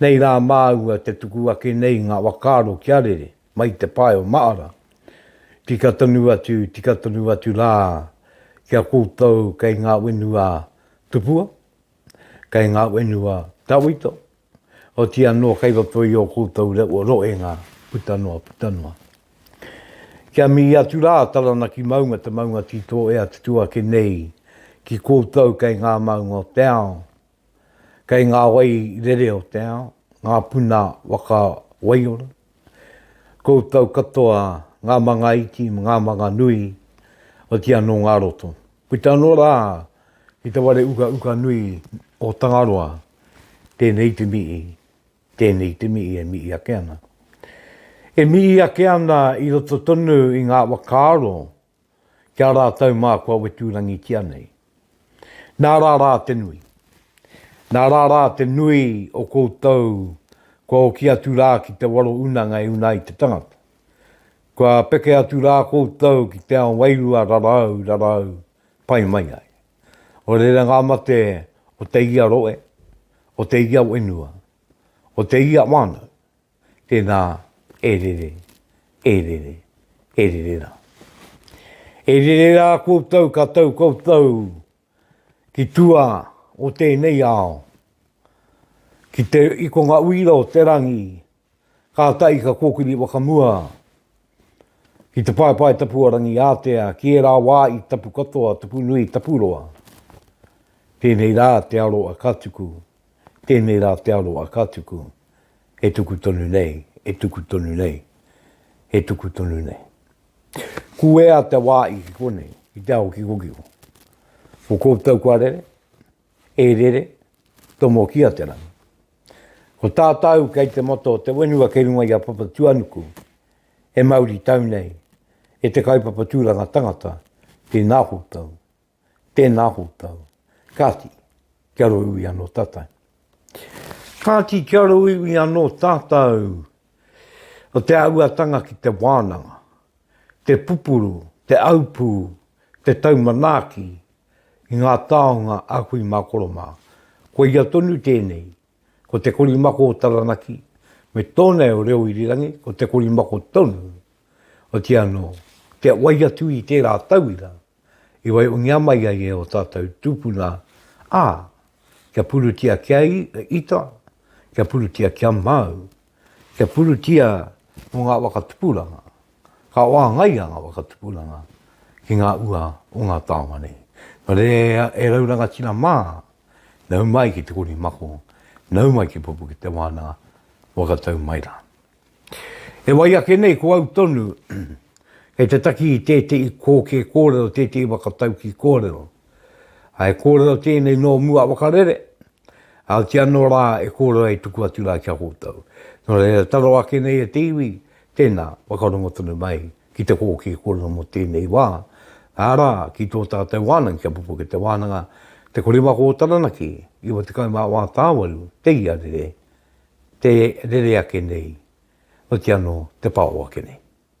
Nei rā māua te tuku ake nei ngā whakaaro kia rere mai te pae o Maara. Tika tonu atu, tika tonu atu rā ki a koutou kei ngā wenua tupua, kei ngā wenua tawhito, oti anō kei roto i ō koutou rewa roenga puta noa, puta noa. Kia mihi atu rā Taranaki maunga te maunga tito e atutu ake nei ki koutou kei ngā maunga o te ao, Kei ngā wai rere o te ao, ngā puna waka waiora, koutou katoa ngā manga iti me ngā manga nui, oti anō ngā roto. Puta anō rā ki te ware ukauka nui o Tangaroa, tēnei te mihi, tēnei te mihi e mihi ake ana. E mihi ake ana i roto tonu i ngā wakaaro ki a rātou mā kua weturangitia nei. Nā rā rā te nui. Nā rā rā te nui o koutou kua oki atu rā ki te waro unanga e una ai te tangata. Kua peke atu rā koutou ki te ao wairua rarau, rarau, pai mai ai. O reira ngā mate o te ia roe, o te ia wenua, o te ia wānau, Tēnā, e rere, e rere, e rere rā. E rere rā koutou ka tau koutou ki tua o tēnei ao, ki te ikonga uira o te rangi, kātahi ka kōkiri whakamua Ki te paepae tapu a rangi ātea, ki ērā wā i tapu katoa, tapu nui, tapu roa. Tēnei rā te aro a ka tuku, tēnei rā te aro a ka tuku, he tuku tonu nei, he tuku tonu nei, he tuku tonu nei. Kuea te wā i ki konei, ki te ao kikokiko. Ko koutou kua rere, e rere, tomokia te rangi. Ko tātau kei te mata o te whenua kei runga i a Papatuanuku, e mauri tau nei, e te kaupapa tūranga tangata, tēnā koutou, tēnā koutou, kāti, kia roiwi anō tātau. Kāti kia roiwi anō tātau, o te auatanga ki te wānanga, te pupuru, te aupū, te taumanaaki, i ngā taonga a kui mā koro mā. Koia tonu tēnei, ko te korimako o Taranaki, me tōnei o Reo Irirangi, ko te korimako tonu, otiia anō, kia wai atu i tērā tauira i waihongia mai ai e ō tātou tūpuna, ā, kia purutia kia ita, kia purutia kia māu, Kia purutia mō ngā waka tupuranga, ka wāngaia ngā waka tupuranga ki ngā ua o ngā taonga nei. Nō reira e rau rangatira mā, nau mai ki Te Kori Mako, nau mai ki Pupuke Te Wānanga, whakatau mai rā. E wai ake nei ko au tonu, kei te taki i tētehi kōkē kōrero, tētehi waka taukī kōrero. I kōrero tēnei nō mua waka rere, ā, ki anō rā e kōrero e tuku atu rā ki a koutou. Nō reira, taro ake nei e te iwi, tēnā, whakarongo tonu mai ki te kōkē kōrero mō tēnei wā, arā, ki tō tātou wānanga, ki a Pukukete Wānanga, Te Korimako o Taranaki, 94 Tāwaru, te ia rere, te rere ake nei, otiano te pao ake nei.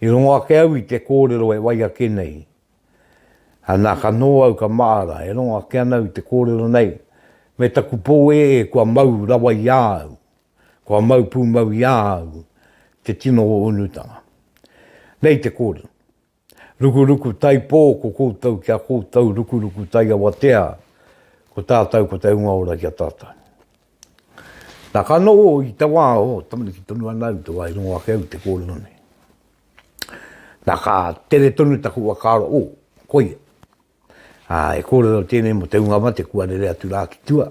I rongo ake au i te kōrero e wai ake nei. Nā ka nō au ka māra, e rongo ake ana au i te kōrero nei, me taku pō ee kua mau rawa i a au, kua mau pūmau i a au te tino o unutanga. Nei te kōrero. Rukuruku Taipō Ko koutou ki a koutou Rukuruku Taiawatea Ko tātou ko te hunga ora ki a tātou Nā ka noho i te wā o tamariki tonu ana au te wā i rongo ake au te kōrero nei Nā ka tere tonu taku whakaaro o, koia. Ā, e kōrero tēnei mō te hunga mate kua rere atu rā ki tua,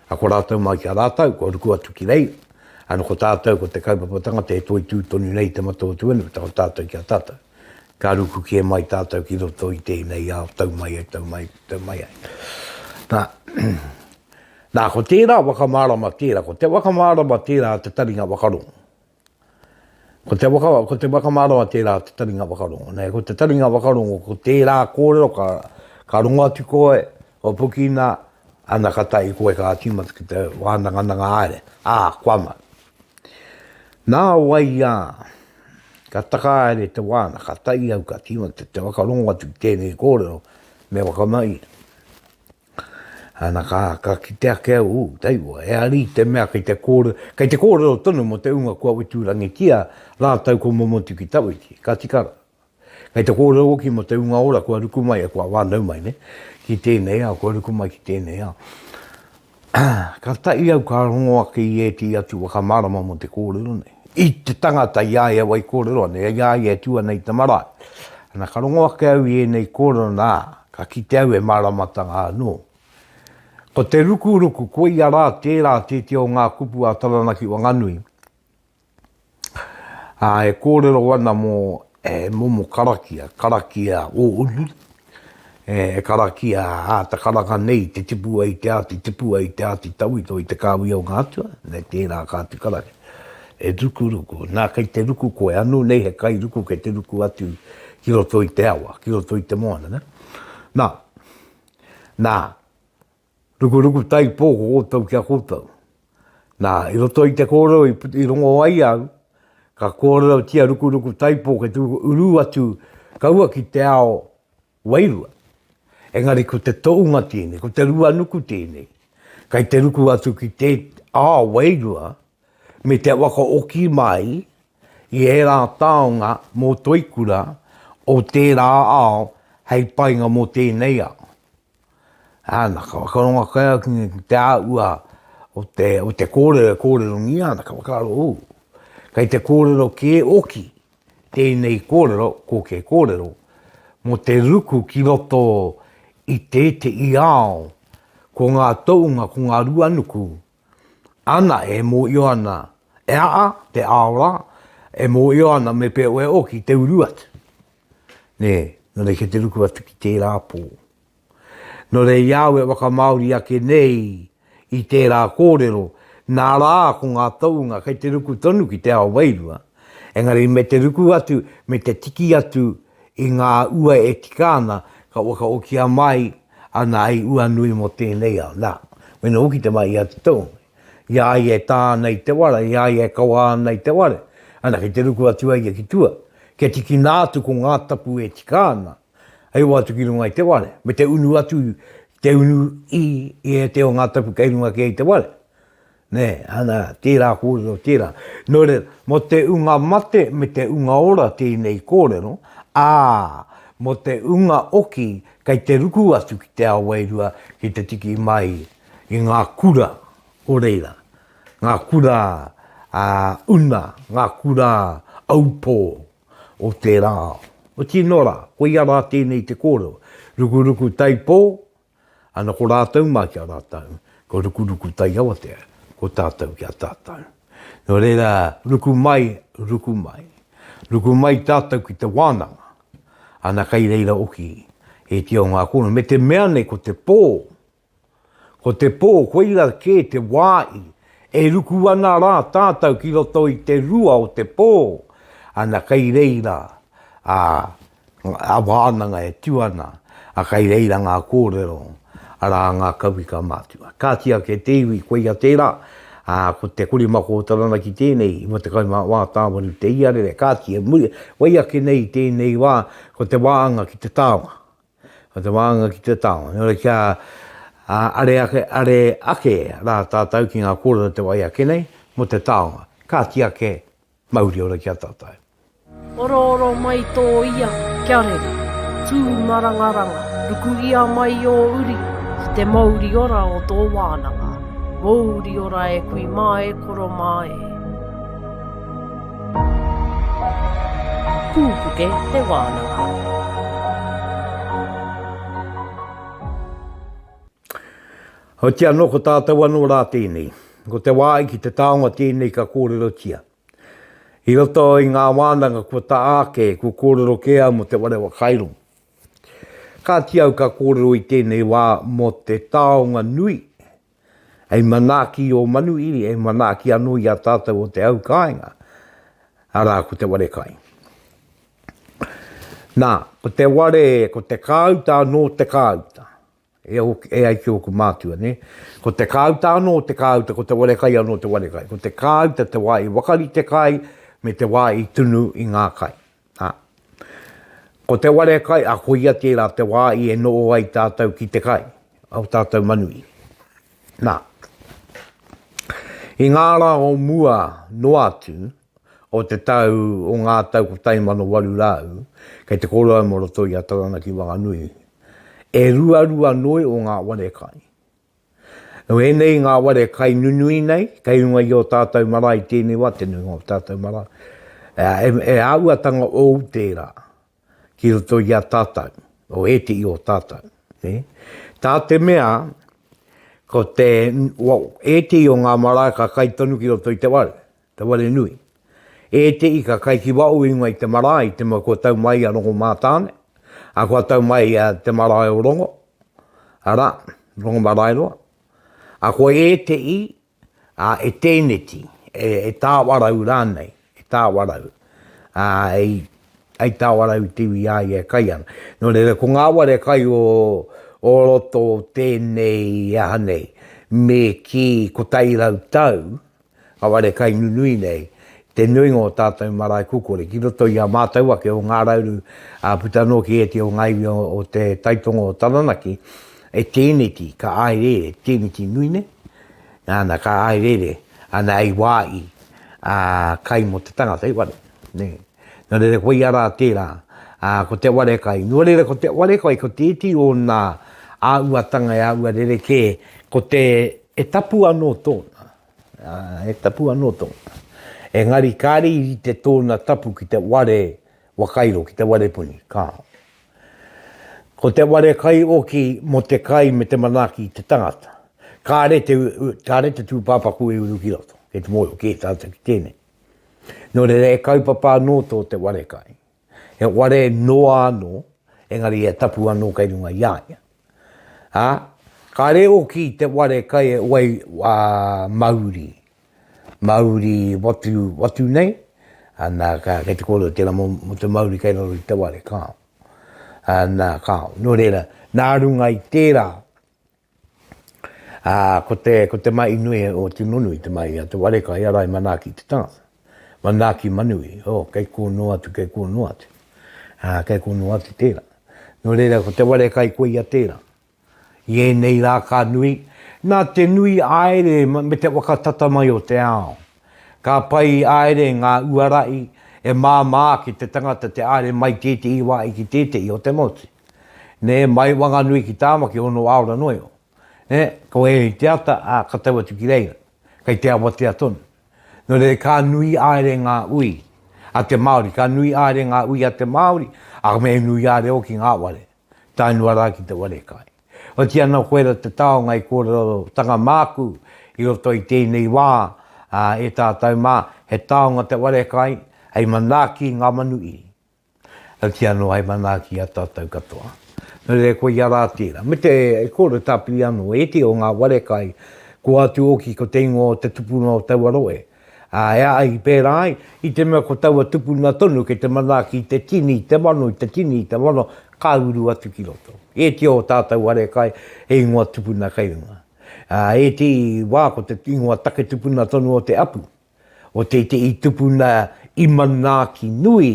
ā, ko rātou mai ki a rātou, kua ruku atu ki reira, ā, nō ko tātou ko te kaupapa tangata e toitū tonu nei i te mata o Tuanu tau tātou ki a tātou. Ka ruku kē mai tātou ki roto i tēnei ao, tau mai ai, tau mai, tau mai ai. Nā, nā, ko tērā waka mārama tērā, ko te waka mārama tērā a te taringa whakarongo. Ko te waka, ko te whakamaroa tērā te taringa whakarongo. Nei, ko te taringa whakarongo, ko tērā kōrero ka, ka rongo atu koe, o pukina, ana ka tai koe ka tīmata ki te wānangananga aere. Ā, kua ma. Nā wai ā, ka taka aere te wāna, ka tai au ka tīmata te whakarongo atu ki tēnei kōrero, me whakamahi. Ana, ka kite ake au, ū, taiua, e ari te mea kei te kōrero, kei te kōrero tonu mō te ūnga kua witurangitia rātou ko Momotu ki Tawiti, ka tika rā. Kei te kōrero hoki mō te ūnga ora kua ruku mai, kua whānau mai nei, ki tēnei ao, kua ruku mai ki tēnei ao. Ka taʻi au ka rongo ake i ētehi atu whakamārama mō te kōrero nei. I te tangata i a ia wai kōrero ana, i a ia e tū ana i te marae. Ana, ka rongo ake au i ēnei kōrero, nā, ka kite au e māramatanga anō. Ko te rukuruku, koia rā tērā tētehi o ngā kupu a Taranaki Wanganui, ā, e kōrero ana mō e momo karakia, karakia o Unu, E karakia a ta karanga nei te tipu ai te ati tipu ai te ati tauito i te kawia o nga atua, me tera ka atu karakia. E ruku ruku, na kei te ruku koe, anu nei he kai ruku kei te ruku atu ki roto i te awa, ki roto i te moana, na, na. Rukuruku taipō ko koutou ki a koutou. Nā, i roto i te kōrero i rongo ai au, ka kōrerotia rukuruku taipō kei te uru atu kaua ki te ao wairua. Engari ko te toʻunga tēnei, ko te ruanuku tēnei, kei te ruku atu ki te ao wairua me te wakaoki mai i ērā taonga mō Toikura o tērā ao hei painga mō tēnei ao. Ana ka whakarongo kai au ki te āhua o te, o te kōrero e kōrerongia ana, ka whakaaro, ū, kei te kōrero kē oki tēnei kōrero, ko ke kōrero, mō te ruku ki roto i tēteʻi ao, ko ngā toʻunga, ko ngā ruanuku, ana e mōio ana e aha te ao rā, e mōio ana me pea oe o ki te uru atu. Nē, nō reira ki te ruku atu ki tērā pō. Nō reira i a au e whakamāori ake nei i tērā kōrero, nā rā ko ngā tounga kei te ruku tonu ki te ao wairua, engari me te ruku atu, me te tiki atu i ngā ua e tika ana, ka whakaokia mai Ana i ua nui mo tenei ao, na, wena hoki te mahi a te tohunga, i a ia e ta ana i te wara, i a ia e kawa ana i te ware, ana kei te ruku atu a ia ki tua, kia tikina atu ko nga tapu e tika ana, hei oa atu ki runga i te ware, me te unu atu te unu i e te o nga tapu kei runga kē i te ware. Nē, ana, tērā kōrero, tērā. Nō reira, mō te unga mate me te unga ora tēnei kōrero, ā, mō te unga oki kei te ruku atu ki te ao wairua ki te tiki mai i ngā kura o reira, ngā kura una, ngā kura aupō o tērā ao. Otirā, koia rā tēnei te kōrero, rukuruku taipō, Ana ko rātou mā ki a rātou, ko Rukuruku Taiawatea, ko tātou ki a tātou. Nō reira, ruku mai, ruku mai. Ruku mai tātou ki te wānanga. Ana kei reira oki, he iti o ngā kōrero. Me te mea nei ko te pō, ko te pō, koira kē te wāi, e ruku ana rā tātou ki roto i te rua o te pō. Ana kei reira, ā, Ngā wānanga e tū ana, ā, kei reira ngā kōrero, arā, ngā kauika matua. Kāti ake te iwi, koia tērā, ā, ko te kore mā kō Taranaki tēnei, 50 mā wā tāwaru te iarere, kāti e muri, wai ake nei i tēnei wā, ko te wānga ki te taonga. Ko te wānga ki te taonga. Nō reira kia, ā, are ake, are ake rā tātou ki ngā kōrero te wai ake nei, mō te taonga. Kāti ake Mauri ora ki a tatou. Orooro mai tō ia kia rere. Tū marangaranga, ruku ia mai ō uri ki te mauri ora o tō wānanga. Mouri ora e kui mā e koro mā e. Pūpuke te wānanga. Heoti anō ko tātou anō rā tēnei. Ko te wā i ki te taonga tēnei ka kōrerotia. I roto i ngā wānanga kua taa ake, kua kōrero kē au mō Te Ware Whakairo. Kāti au ka kōrero i tēnei wā mō te taonga nui hei manaaki i ō manuhiri, hei manaaki anō i a tātou o te au kāinga, arā ko te ware kai. Nā, ko te ware, ko te kāuta anō te kāuta. E, e ai ki ōku mātua, nē. Ko te kāuta anō te kāuta, ko te warekai anō te warekai. Ko te kāuta te wā i wakarite kai, me te wā i tunu i ngā kai. Ha. Ko te warekai, a ko ia tērā te wā i e noo ai tātou ki te kai, au tātou manuī. Nā. I ngā rā o mua noa atu, o te tau o ngā tau 1800, kei te kōrua mō roto i a Taranaki Wanganui, e ruarua noi o ngā ware kai. Nō ēnei ngā ware kai nunui nei, kei runga i ō tātou marae tēnei wā, te nuinga o ō tātou marae, e, e āuatanga ōu tērā ki roto i a tātou, o ētehi o tātou. Ne? Tā te mea, ko te, well, ētehi o ngā marae ka kai tonu ki roto i te ware. Te Wharenui. E te ika kai ki waho i ngoi te marae i te mua kua tau mai a Rongomātāne, a kua tau mai a te marae o Rongo, ara, Rongomaraeroa, a ko e te i, a e tēneti, e, e Tāwarau rānei, e Tāwarau, a ei, ei Tāwarau i te iwi i a ia e kai ana. Nō reira, ko ngā ware kai o, o roto o tēnei aha nei, me kī 100 tau, Kāore kai nunui nei te nuinga o tātou marae kukore ki roto i a mātou ake o Ngā Rauru ā puta anō ki ētehi o ngā iwi o Te Taitonga o Taranaki e tēneti ka āereere, tēneti nui nei nāna ka āereere ana hei wāhi ā kai mō te tangata hei ware nē nō reira koia rā tērā ā ko te ware kai nō reira ko te ware kai ko tētehi o nā āuatanga e āua rerekē ko te He tapu anō tōna, ā, he tapu anō tōna. Engari kāre i rite tōna tapu ki te ware wakairo, ki te ware puni, kāo. Ko te ware kai oki mō te kai me te manaaki i te tangata. Kāre te, kāre te tūpāpaku i uru ki roto, kei te mōhio kē tātou ki tēnei. Nō reira e kaupapa anō tō te ware kai. He ware noa anō, engari he tapu anō kei runga i a ia. Ā, kāre hoki te ware kai e wai a Mauri, Mauri watu, watu nei, ana, ka, kei te kōrero tērā mō, mō te Mauri kei raro i te ware, kāo. Ā, nā, kāo. Nō reira, nā runga i tērā, Ā, ko te, ko te mahi nui o Timonui, te mahi a Te Wareka, i ara i manaaki te tangata. Manaaki manui, ō, kei kō noa atu, kei kō noa atu. Ā, kei kō noa atu tērā. Nō reira, ko Te Wareka i koia tērā. I ēnei rā ka nui, nā te nui aere me te whakatata mai o te ao. Ka pai aere ngā uarahi e māmā ki te tangata te aere mai tētehi wā i ki tētehi o te motu. Nē, mai Wanganui ki Tāmaki ono aora noa iho. Nē, ko ē i te ata, ā, ka tau atu ki reira. Kei te awatea tonu. Nō reira, ka nui āere ngā ui a te Māori, ka nui āere ngā ui a te Māori, ā, me nui āere hoki ngā ware, tae noa rā ki te ware kai. Otiia nō koira te taonga i kōrerotanga māku i roto i tēnei wā, ā, e tātou mā, he taonga te ware kai, hei manaaki i ngā manu iri. Ka kī anō, Hai manaaki a tātou katoa. Nō reira, ko ia rā tērā. Me te kōrero tāpiri anō, e te o ngā ware kai, ko ātu ōki ko te ingoa o te tupuna o taua rohe. Ā, e a i pērā ai, i te mea ko taua tupuna tonu kei te manaaki i te tini, i te mano, i te tini, i te mano, ka uru atu ki roto. E te o tātou ware kai, he ingoa tupuna kei runga. Ā, e te wā ko te ingoa take tupuna tonu o te apu. o te iti i tupuna i manaaki nui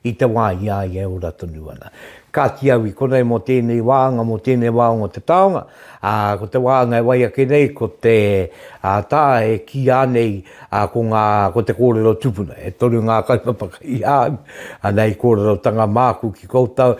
i te wā i a ia e ora tonu ana. Kāti au i konei mō tēnei wāanga, mō tēnei wāonga o te taonga, ā, ko te wāanga e wai ake nei ko te tā e kīā nei ko ngā, ko te kōrero tupuna. E toru ngā kaupapa kei a au, ana i kōrerotanga māku ki koutou,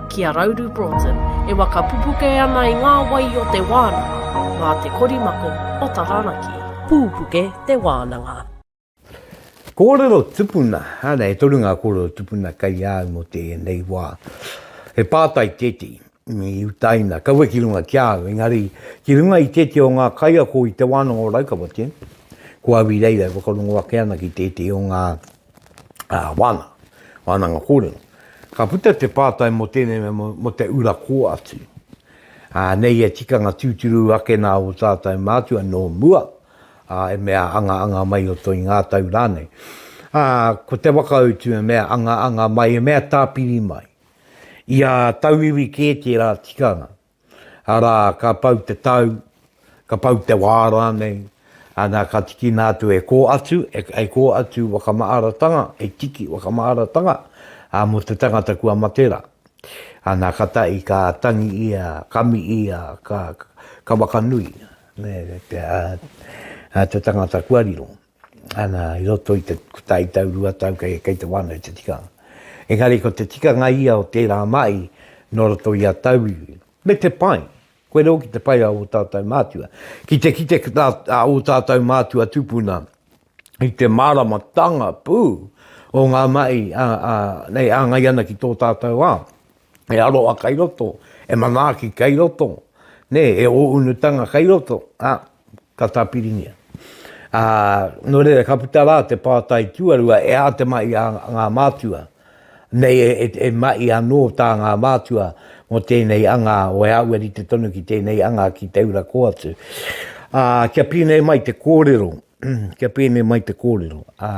ki a Rauru Broughton e waka pupuke ana i ngā wai o te wānanga mā te korimako o Taranaki. Pūpuke te wānanga. Kōrero tupuna, ana e toru ngā kōrero tupuna kei a au mō tēnei wā. He pātai tēti i utaina, kaua ki runga ki a au, engari ki runga i tēti o ngā kaiako i te wānanga o Raukawa tēnei, ko au i reira e whakarongo ake ana ki tēti o ngā wānanga, wānanga kōrero. Ka puta te pātai mō tēnei mea mō te ura kō atu. Nei he tikanga tūturu ake nā ō tātou mātua nō mua, e mea anga anga mai o toi ngā tau rānei. Ko te whakautu e mea anga anga mai, e mea tāpiri mai. Ia tauiwi kē tērā tikanga. Arā, ka pau te tau, ka pau te wā rānei, ana, ka tikina atu e kō atu, e kō atu whakamaaratanga, e tiki whakamaaratanga, ā, mō te tangata kua mate rā. Ana, ka tahi, ka tangi ia, ka mi ia, ka, ka whakanui, nē, te, ā, ā, te tangata kua riro. Ana, i roto i te kotahi tau, rua tau kei, kei te wānau i te tikanga. Engari ko te tikanga ia o tērā mahi nō roto i a tauiwi. Me te pai, koe reo ki te pai a ō tātou mātua. Ki te kite a ō tātou mātua tupuna i te māramatanga pū o ngā mahi a, a, nei āngai ana ki tō tātou ao. e aroha kai roto, e manaaki kai roto, nē, e ōunutanga kai roto, ā, ka tāpiringia. Ā, nō reira, ka puta rā te pātai tuarua, e ā te mahi a ngā mātua, nei e, e, e mahi anō tā ngā mātua mō tēnei anga, o e aua rite tonu ki tēnei anga ki Te Ura kō atu. Ā, kia pēnei mai te kōrero, kia pēnei mai te kōrero. Ā,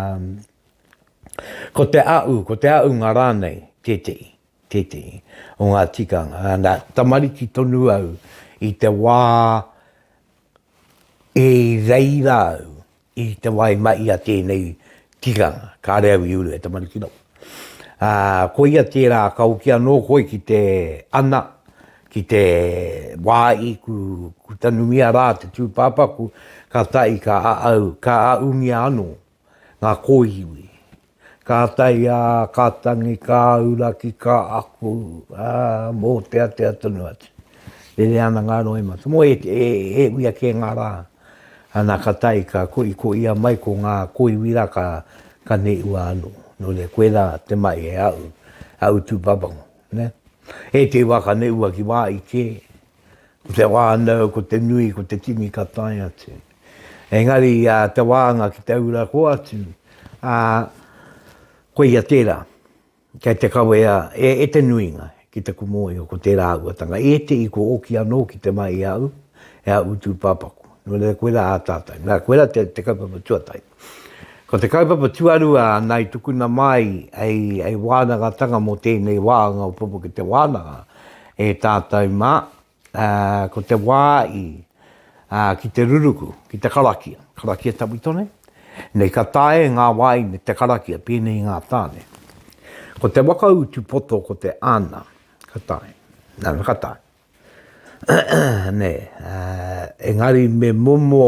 Ko te a'u, ko te a'unga rānei tētehi, tētehi o ngā tikanga. Nā, tamariki tonu au i te wā i reira au i te wā i mahi a tēnei tikanga. Kāre au i uru he tamariki noa. Ā, koia tērā ka hoki anō koe ki te ana, ki te wā i ku, ku tanumia rā te tūpāpaku, ka tahi ka a'au, ka a'ungia anō ngā kōiwi. Ka tae ā, ka tangi, ka auraki, ka ako, ā, mōteatea tonu atu. Rere ana ngā roimata. Tomo e, e, e uia kē ngā rā. Ana ka tae, ka koi, ko ia mai ko ngā kōiwi rā ka, ka neua anō. Nō reira, koe rā te mahi e au, au tūpapango. Nē? E te wā ka neua ki wā i kē, Ko te whānau, ko te nui, ko te tini ka tae atu. Engari a te wānga ki te ura ko atu, a, ko ia tērā. Kei te kawea e, e te nuinga ki te kumoio ko tērā auatanga. E te i ko oki anō ki te mai i a au, e a utu pāpaku. Nō reira koe rā a tātou. Nā, koe rā te, te kaupapa tuatahi. Ko te kaupapa tuarua nāi tukuna māi hei wānangatanga mō tēnei wāanga o Pupu ki te Wānanga e tātou mā, ko te wā i ki te ruruku, ki te karakia, karakia tawhitone, nei ka taea ngā wā i me te karakia pēnei i ngā tāne. Ko te waka utu poto ko te ana, ka taea, nana ka taea. Nei, engari me momo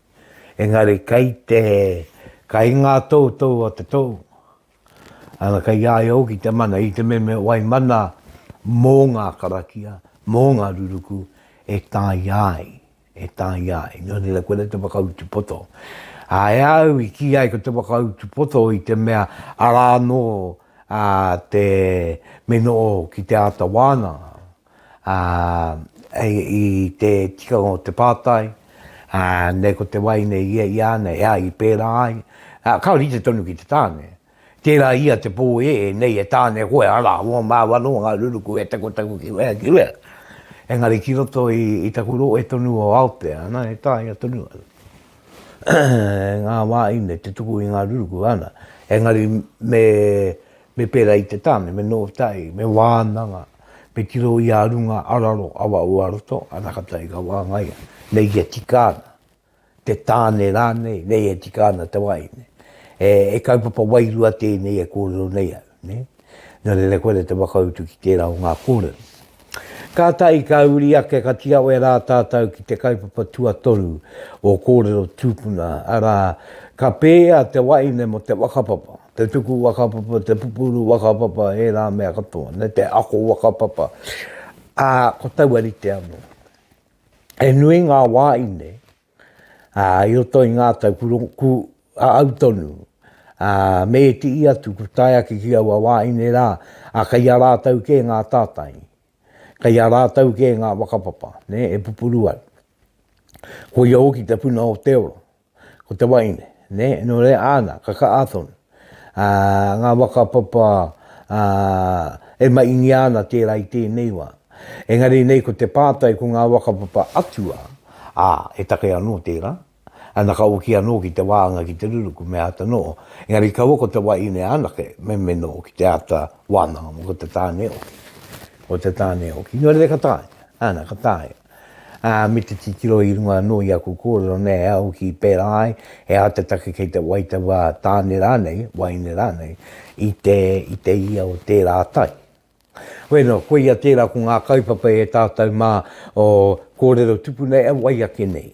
Engari kei te, kei ngā toutou a te tou, ana kei a ia hoki te mana, i te mea me wai mana mō ngā karakia, mō ngā ruruku, e tāia ai, e tāia ai. Nō reira, koe te whakautu poto. Ā, e au i kī ai ko te whakautu poto i te mea arā anō te mino ki te āta wāna, ā, i te tikanga o te pātai, ā, nei ko te wai nei ia i a nei, ā, i pērā ai, ā, ka rite tonu ki te tāne. Tērā ia te pō ē, nei e tāne koe, arā, o māua nō ngā ruruku e takotaku ki wea, ki wea. Engari ki roto i, i taku rohe tonu o Aotea, ana, e taea tonu ana ngā wā ine te tuku i ngā ruruku, ana. Engari me, me pērā i te tāne, me nō tahi, me wānanga. Me tiro i a runga araro awa o a roto, anakata i gawangaya, nei e tika ana, te tane ranei, nei e tika ana te wai, ne. E, e kaupapa wairua tenei e korero nei au, ne. No reira koira te whakautu ki tera o nga korero. Ka tahi ka uri ake ka tiawe ra tatou ki te kaupapa tuatoru o korero tupuna, ara, ka pea te waine mo te whakapapa. Te tuku whakapapa, te pupuru whakapapa, ērā mea katoa, me te ako whakapapa, ā, ko taua rite anō. He nui ngā wāine, ā, i roto i ngā tau, ku, ku a au tonu, ā, me ētihi atu, ku tae ake ki aua wāine rā, ā, kei a rātou kē ngā tātai, kei a rātou kē ngā whakapapa, nē, e pupuru ai. Koia hoki te puna o te ora. Ko te waeine, nē, nō reira āna, ka kaha tonu ā, ngā whakapapa ā, e maingia ana tērā i tēnei wā. Engari nei ko te pātai ko ngā whakapapa atua, ā, he take anō tērā, ana ka oki anō ki te wānga ki te ruruku me āta noho. Engari kaua ko te waeine anake meme noho ki te āta wānanga mō ko te tāne e oki. Ko te tāne e oki, nō reira ka taea, āna, ka taea. Ā, me te titiro i runga anō i aku kōrero nei, ā, hoki i pērā ai, he aha te take kei te waitawā tāne rānei, waeine rānei, i te, i te ia o tērā tai? Hoi anō, koia tērā ko ngā kaupapa e tātou mā o kōrero tupu nei e wai ake nei.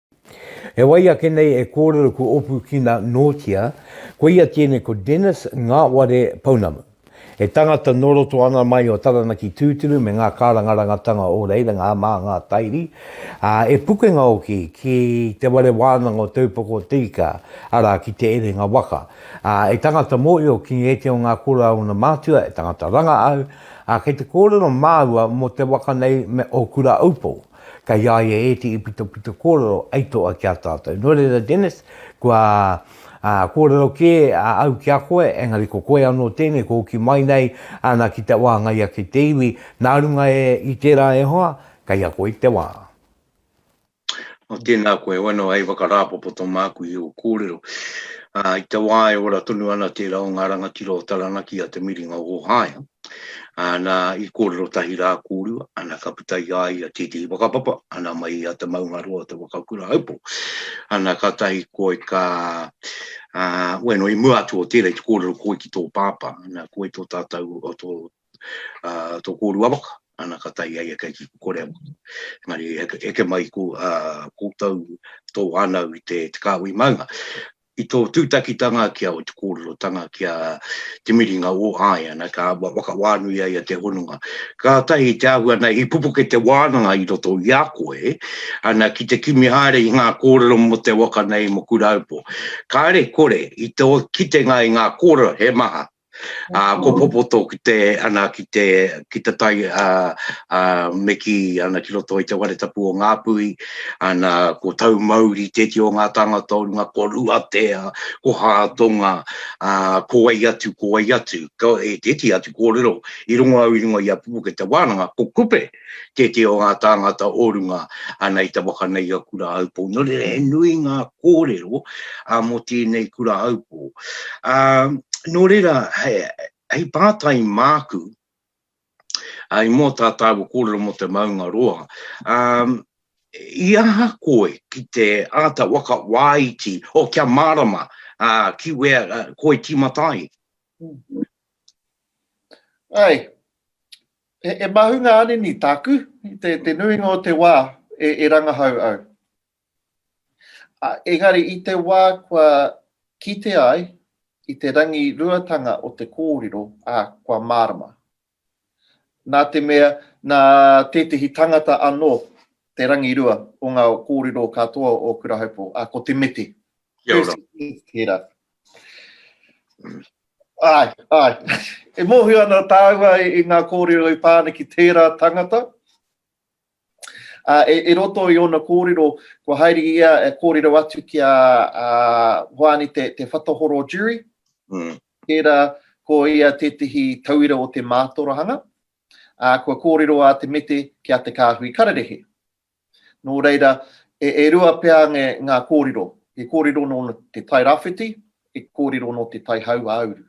He wai ake nei e kōrero ko Opukina nōtia, koia tēnei ko Dennis Ngaware Pounamu. He tangata nō roto ana mai o Taranaki tūturu me ngā kārangarangatanga o reira ngā mā ngā tairi, ā, e pukenga hoki ki te ware wānanga o Te Upoko o Te Ika, arā, ki Te Erenga Waka. Ā, e tangata mōhio ki ētehi o ngā kura a ōna mātua, e tangata ranga au, ā, kei te kōrero māua mō te waka nei me ō Kura Aupō. Kei a ia ētehi pitopito kōrero hei toa ki a tātou. Nō reira, Dennis, kua kōrero kē au ki a koe, engari ko koe anō tēnei kua hoki mai nei ana ki te wāngai ake i te iwi, nā runga e i tērā e hoa, kei a koe te wā. O, tēnā koe, heoi anō, hei whakarāpopoto māku i ō kōrero. I te wā e ora tonu ana tērā o ngā rangatira o Taranaki a Te Miringa o Ōhaea, Ā, nā, i kōrero tahi rā kōrua, ana, ka puta i a ia tētehi whakapapa, ana, mai i a Te Maungaroa o Te Wakakurahaupo, ana, kātahi koe ka, ā, ueno, i mua atu o tērā, i te kōrero koe ki tō pāpā, ana, koe tō tātou, o tō, ā, tō kōrua waka, ana, kātahi a ia kei kikokore au. Engari, eke, eke mai ko, ā, koutou, tō whānau i te, te kāhui maunga. I tō tūtakitanga ki a o te kōrerotanga ki a Te Miringa o Āiana ka whakawānui ai a te hononga. Kātahi i te āhua nei i pupuke te wānanga i roto i a koe ana ki te kimi haere i ngā kōrero mō te waka nei mō Kuraupō. Kāre kore i tō kitenga i ngā kōrero he maha Ā, ko Popoto ki te, ana, ki te, ki te tai, ā, ā, me kī, ana, ki roto i te ware tapu o Ngāpuhi, ana, ko Taumauri tētehi o ngā tāngata o runga, ko Ruatea, ko Hātonga, ā, ko wai atu, ko wai atu, ko, e tētehi atu kōrero i rongo au i runga i a Pupuke te wānanga, ko Kupe. tētehi o ngā tāngata o runga ana i te waka nei a Kurāupo. Nō reira, he nui ngā kōrero mō tēnei Kurāupo. Nō reira, hei pātai māku, i mua o tā tāua kōrero mō te maunga roa, i aha koe ki te āta waka wāiti, o kia mārama, ki wea koe tīmata ai? Āe, He mahu ngā anini tāku, te nuinga o te wā e rangahau au. Engari i te wā kua kitea ai i te rangiruatanga o te kōrero, ā, kua mārama. Nā te mea, nā tētehi tangata anō te rangirua o ngā kōrero katoa o Kurahaupō, ā, ko Te Mete. Kia ora. Tērā. Āe, āe. E mōhio ana tāua i ngā kōrero i pā ana ki tērā tangata. Ā, e, e roto i ōna kōrero, kua haere i a, e kōrero atu ki a, a Hoani Te, Te Whatahoro Jury, Mm. tērā ko ia tētehi tauira o te mātorahanga, ā, kua kōrero a Te Mete ki a Te Kāhui Kararehe. Nō reira, e rua pea ngā kōrero, he kōrero nō te tai rāwhiti, he kōrero nō te tai hauāuru.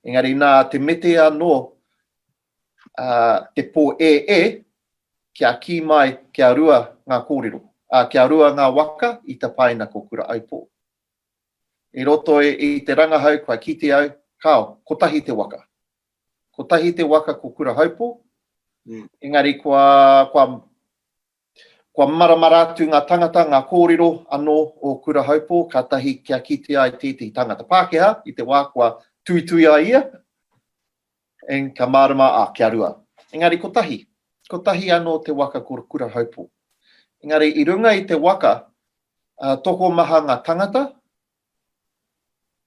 Engari nā te mete anō te pō e e, kia kī mai kia rua ngā kōrero, ā, kia rua ngā waka i tapaina ko Kura-aupō. I roto i te rangahau kua kite au, kāo, kotahi te waka. kotahi te waka ko Kurahaupo, engari kua, kua, kua maramara atu ngā tangata, ngā kōrero anō o Kurahaupo, kātahi kia kitea ai tētahi tangata Pākehā i te wā kua tuitui ai ia, eng, ka mārama, ā, kia rua. Engari kotahi, kotahi anō te waka ko Kurahaupo. Engari i runga i te waka, ā, tokomaha ngā tangata,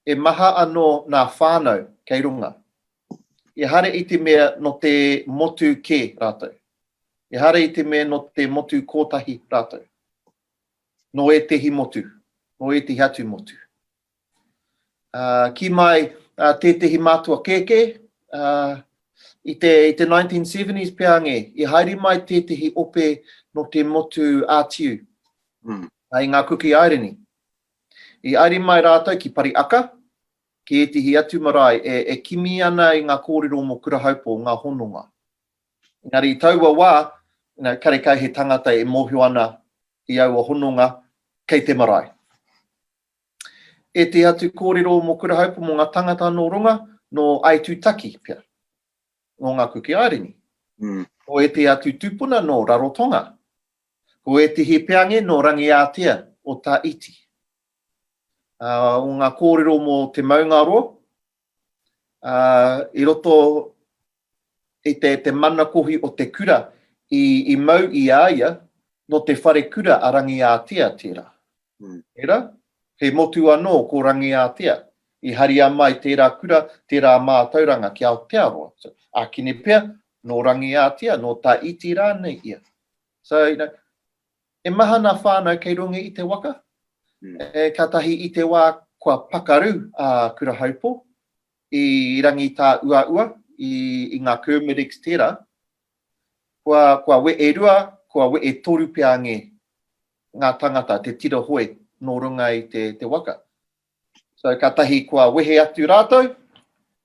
E maha anō nā whānau kei runga. Ehara i te mea nō te motu kē rātou. Ehara i te mea nō te motu kōtahi rātou. Nō ētehi motu, nō ētehi atu motu. Ā, kī mai tētehi mātua kēkē, ā, i te, i te 1970s pea ngē, i haere mai tētehi ope nō te motu ātiu, mm. i ngā Kuki Aireni. I airi mai rātou ki Pariaka, ki ētehi atu marae e, e kimi ana i ngā kōrero mō Kurahaupō, ngā hononga. Engari i taua wā, you know, karekau he tangata e mōhio ana i aua hononga, kei te marae. Ētehi atu kōrero mō Kurahaupō mō ngā tangata nō Ronga, nō Aitutaki pea, nō ngā Kuki Airini. Nō ētehi atu tūpuna nō Rarotonga, Ko ētehi peange nō Rangiātea o Tā Iti. Ā, o ngā kōrero mō te maungaroa, ā, i roto i te, te manakohi o te kura i, i mau i a ia, nō te wharekura a Rangiātea tērā. Tērā, he motu anō ko Rangiātea, i haria mai tērā kura, tērā mātauranga ki Aotearoa. Ākene pea, nō Rangiātea, nō Tā Iti rānei ia. So, you know, e maha ngā whānau kei runga i te waka, e kātahi i te wā kua pakaru a Kura Haupo i rangi tā uaua i, i ngā Kermitics tērā, kua, kua we e rua, kua we e toru pea nge ngā tangata te tira hoe nō runga i te, te waka. So katahi kua wehe atu ratou,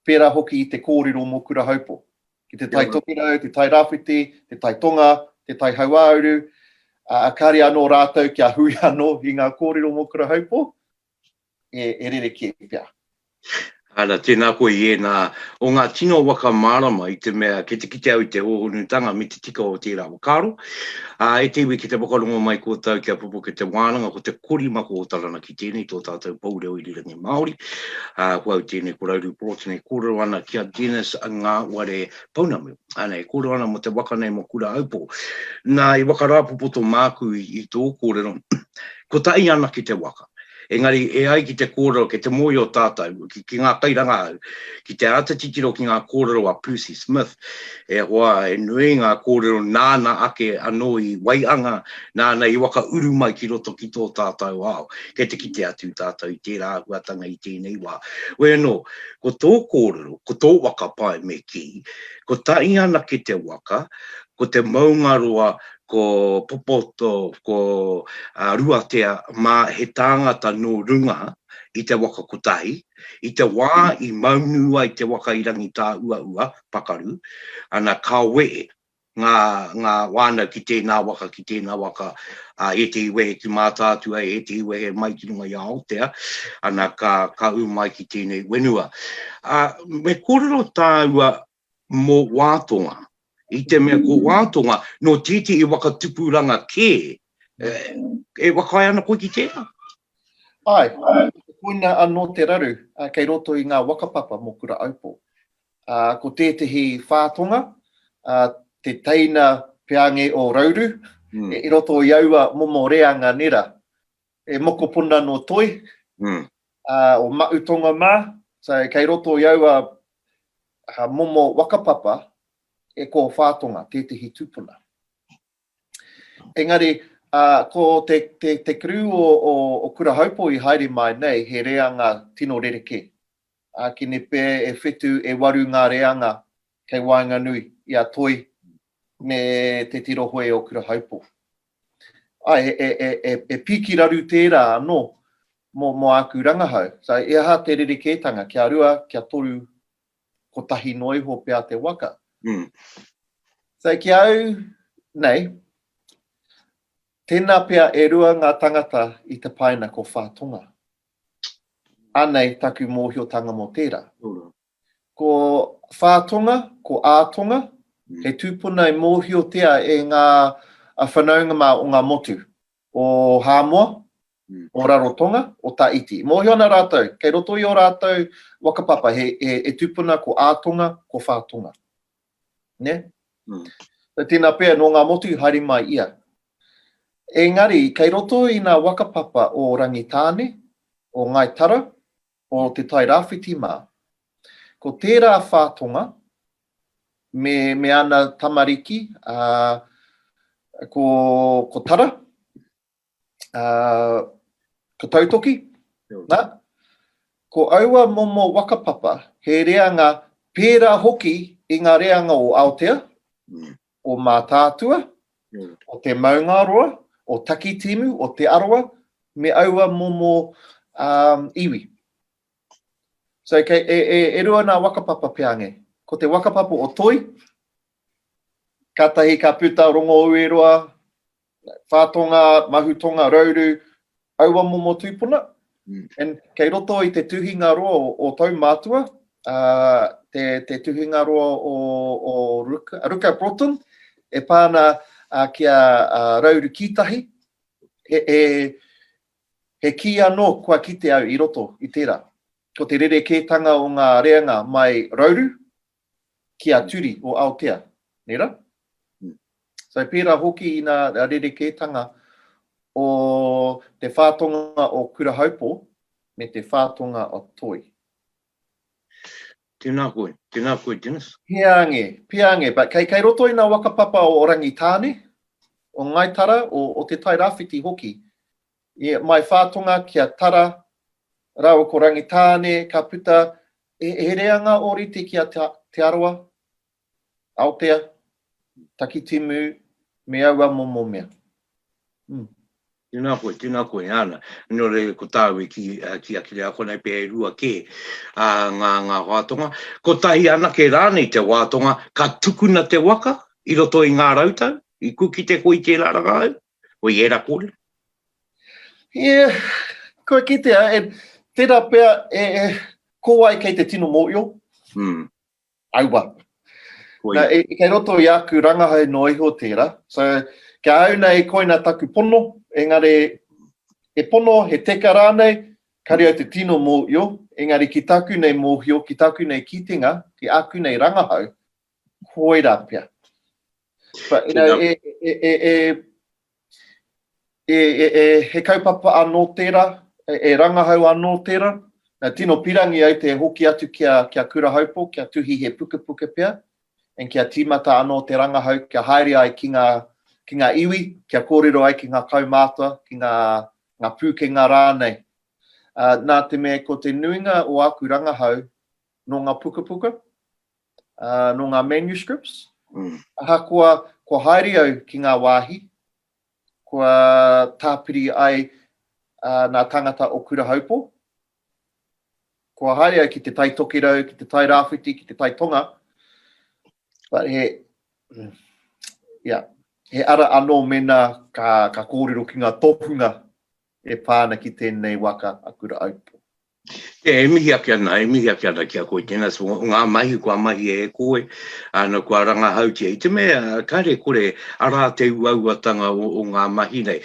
pera hoki i te korero mo Kurahaupo. Ki te Tai Tokerau, te Tai Rawhiti, te Tai Tonga, te Tai Hauauru, a kare ano ratou kia hui ano i nga korero mo Kurahaupo, e, e rereke pea. Ara, tēnā koe i ēnā o ngā tino waka mārama i te mea kei te kite au i te hōhonutanga me te tika o tērā whakaaro. Ā, e te iwi ki te whakarongo mai kōtou kia pupuke te wānanga ko te korimako o Taranaki. i tēnei tō tātou pou reo irirangi Māori. Uh, ko au tēnei ko Rauru Porotene, e kōrero ana ki a Dennis ngā ware pounamu. Ana, e kōrero ana mo te waka nei mo Kura Aupō. Nā, i wakarāpopoto māku i, i tō kōrero, ko ta i ana ki te waka. Engari, e ai ki te kōrero, ke te mōi o tātou, ki, ki ngā kairangahau, ki te āta titiro ki ngā kōrero a Percy Smith, E hoa, he nui ngā kōrero nāna ake anō i waianga, nāna i whakauru mai ki roto ki tō tātau ao. Kei te kite atu tātau i tērā āhuatanga i tēnei wā. Hoi anō, ko tō kōrero, ko tō waka pae me kī, kotahi anake te waka, ko te maungaroa, ko Popoto, ko Ruatea mā he tāngata nō runga i te waka kotahi, I te wā i maunu ai te waka i Rangitāuaua, pakaru, ana ka wehe ngā, ngā wānau ki tēnā waka, ki tēnā waka, ā, ētehi wehe ki Mātaatua, ētehi wehe mai ki runga i a Aotea, ana ka, ka ū mai ki tēnei wenua. Ā, me kōrero tāua mō Wātonga, i te mea ko Wātonga nō tētehi waka tupuranga kē, e whakaae ana koe ki tērā? Āe, koina anō te raru kei roto i ngā waka papa mō Kura Aupō. Ko tētehi Whātonga, te teina peange o Rauru, i roto i aua momo reanga nera, E mokopuna nō Toi, o Maʻu Tonga mā. So, kei roto i aua momo whakapapa e kōwhā tonga tētehi tūpuna. Engari, ko te kerū o Kurahaupo i haere mai nei, he reanga tino rerekē. Ākene pea e whetu, e waru ngā reanga kei waenganui i a Toi me te tirohoi o Kurahaupo. e piki raru tērā anō mō āku rangahau. So, e aha te rerekētanga? Kia rua, kia toru, kotahi noa iho pea te waka. So, ki a au nei, tēnā pea e rua ngā tangata i te paina ko Whātonga. Anei taku mōhiotanga mō tērā. Ko Whātonga, ko Ātonga, he tūpuna i mōhiotia e ngā whanaunga mā o ngā motu, o Hāmoa, o Rarotonga, o Tahiti. Mōhio ana rātou, kei roto i ō rātou waka papa, he, he, he tūpuna ko Ātonga, ko Whātonga. Ne? Mm. So, tēnā pea, nō ngā motu, haere mai ia. Engari, kei roto i ngā waka papa o Rangitāne, o Ngāi Tara, o Te Tai Rāwhiti mā. Ko tērā whā tonga, me, me ana tamariki, ā, ko, ko Tara, ā, ko Tautoki, nā, ko aua momo waka papa, he reanga pērā hoki i ngā reanga o Aotea, o Mātaatua, o Te Maungaroa, o Takitimu, o Te Arawa, me aua momo iwi. So, kei, e, e, e rua nā wakapapa peange. Ko te wakapapa o Toi, kātahi ka puta Rongo Ueroa, Whā tonga, mahu tonga, rauru, aua momo tūpuna. And kei roto i te tuhinga roa o tau mātua, te tuhinga roa o Ruka Broughton, e pā ana ki a Rauru Kītahi, he kī anō kua kite au i roto i tērā. Ko te rerekētanga o ngā reanga mai Rauru, ki a Turi o Aotea, nei ra? So pera hoki ina rerekētanga o te whātonga o Kurahaupo me te whātonga o Toi. Tēnā koe, tēnā koe Dennis. Peange, peange, but kei roto i nga waka papa o Rangitāne, o Ngai Tara, o Te Tai Rawhiti hoki, mai whātonga ki a Tara raua ko Rangitāne ka puta He reanga ōrite ki a Te Arawa, Aotea, Takitimu me aua momo mea. Umm. Tēnā koe, tēnā koe, āna. Nō reira ko tāu e kī, kī ake nei, ākonei pea e rua kē ngā, ngā wātonga. Kotahi anake rānei te wātonga ka tukuna te waka i roto i ngā rautau, i kukite koe i tērā rangahau? Hoi era kore? Ia, kua kitea, e, tera pea, e, e, ko wai kei te tino moio? Mm. Aua. Hoi. Na, e, kei roto i aku rangahau no iho tera. So, kia au nei koina taku pono, engare, he pono, he teka ranei, kare au te tino moio, engari ki taku nei mohio, ki taku nei kitenga, ki aku nei rangahau, koira pea. But, you know, e, e, e, e, e, e, e, he kaupapa anō tērā, e, e rangahau anō tērā, na tino pirangi au te hoki atu kia, kia kura haupo, kia tuhi he pukepuke pea, en kia tīmata anō te rangahau, kia haere ai ki ngā, ki ngā iwi, kia kōrero ai ki ngā kaumātua, ki ngā, ngā pūkenga rānei. Uh, nā te mea ko te nuinga o aku rangahau nō ngā pukapuka, nō ngā manuscripts, ahakoa kua haere au ki ngā wāhi, kua tāpiri ai ngā tāngata o Kura Haupo, kua haere au ki te Tai Tokerau, ki te Tai Rāwhiti, ki te Tai Tonga, but he, yeah, he ara anō mēnā ka, ka kōrero ki ngā tohunga e pā ana ki tēnei waka a Kura Haupo. E, e mihi ake ana, e mihi ake ana ki a koe tēnā, so ngā mahi kua mahi e koe, āna kua rangahautia, i te mea, kāre kore, arā te uauatanga o, o ngā mahi nei.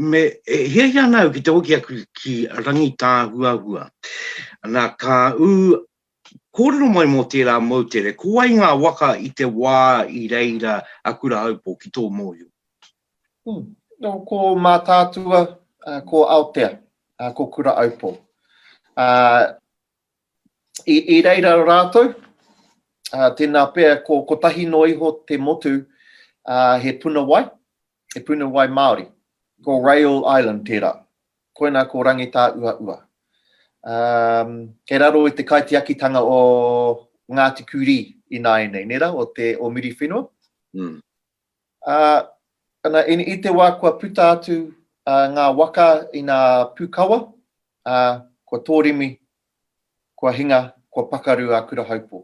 Me, e, hiahia ana au ki te hoki aku ki Rangitāhuahua, nā, ka ū Kōrero mai mō tērā moutere, ko wai ngā waka i te wā i reira a Kurahaupō ki tō mōhio? Ko Mātaatua, ko Aotea, ko Kurahaupō. I reira rātou, tēnā pea, kotahi noa iho te motu, he puna wai, Te puna wai Māori. Ko Rail Island tērā. Koinā ko Rangitāuaua. Um, kei raro i te kaitiakitanga o Ngāti Kurī ināianei, nē rā, o, te, o Miriwhenua. Mm. Uh, ana, in, i te wā kua puta atu uh, ngā waka i ngā pūkawa, uh, kua tōrimi, kua hinga, kua pakaru a Kurahaupō.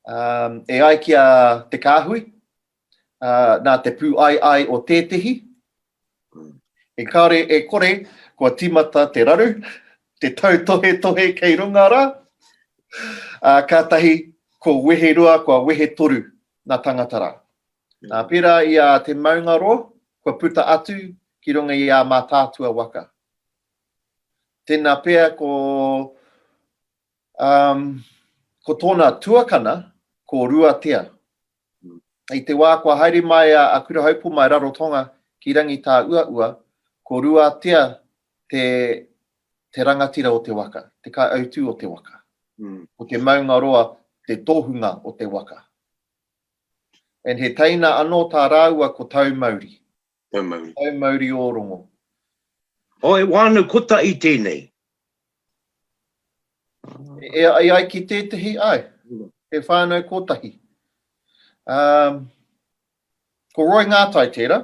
Um, e ai ki a Te Kāhui, nā te pūaiai o tētehi, e kare e kore kua tīmata te raru, te tautohetohe kei runga rā, ā, kātahi ko wehe rua, kua wehe toru ngā tāngata rā. Ā, pērā i a te maungaroa, kua puta atu ki runga i ā Mātaatua waka. Tēnā pea ko, ā, ko tōna tuakana ko Ruatea, I te wā kua haere mai a Akurahaupō mai Rarotonga ki Rangitāuaua, ko Ruatea te te rangatira o te waka, te kaiautū o te waka. Ko te maungaroa te tohunga o te waka. And he teina anō tā rāua ko Taumauri. Taumauri. Taumauri Ōrongo. Oh, e wānau kotahi tēnei. E ai ai ki tētehi, ai, e whānau kotahi. Um, ko Roy Ngātai tēra,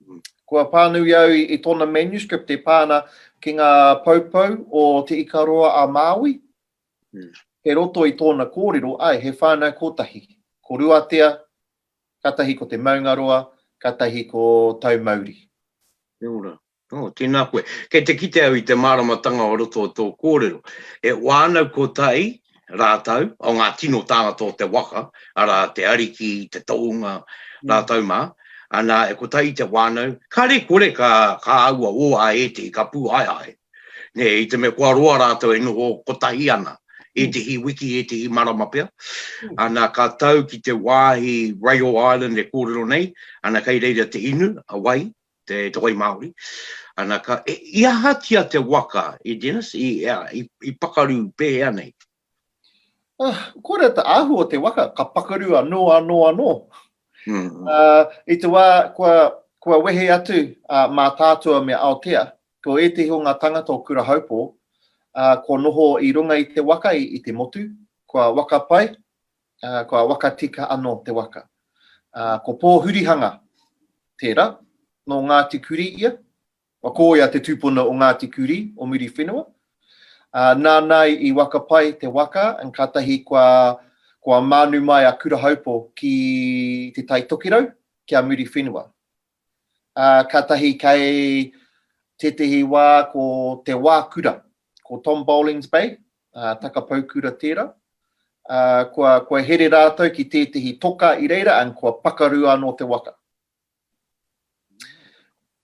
mm. kua pānui au i, i tōna manuscript e pāna ki ngā poupou o Te Ikaroa a Māui, mm. he roto i tōna kōrero, ai, he whānau kotahi. Ko Ruatea, Katahi ko te maungaroa, katahi ko Taumauri. Kia ora. Oh, tēnā koe. Kei te kite au i te māramatanga o roto o tō kōrero. E wānau kotahi rātou, o ngā tino tāngata o te waka, arā, te ariki, te tohunga, rātou mā, ana, e kotahi te wānau, kare kore ka, ka aua o a ētehi, ka pūhaehae. Nē, i te mea kua roa rātou e noho kotahi ana, ētehi wiki, ētehi marama pea, ana ka tau ki te wāhi Rail Island e kōrero nei, ana kei reira te inu, a wai, te, te wai Māori, ana ka, e, i ahatia te waka, i Dennis, i, i, i pakaru pēhea nei? Ah, kore ta ahu o te waka, ka pakaru ano, ano, ano. Mm. Uh, I te wā, kua, kua wehe atu uh, mā tātua me Aotea, ko ētehi o ngā tangata o Kura Haupō, uh, ko noho i runga i te waka i, i te motu, kua waka pai, uh, kua waka tika ano te waka. Uh, ko Pōhurihanga, tērā, no Ngāti Kuri ia, Kua kōea te tūpuna o Ngāti Kurī, o Muriwhenua. Nāna i waka pai te waka, kātahi kua mānu mai a Kurahaupo ki Te Tai Tokerau, ki a Muriwhenua. Kātahi kei tētehi wā ko Te Wā Kura, ko Tom Bollings Bay, takapau kura tērā. Kua here rātou ki tētehi toka i reira, kua pakaru anō te waka.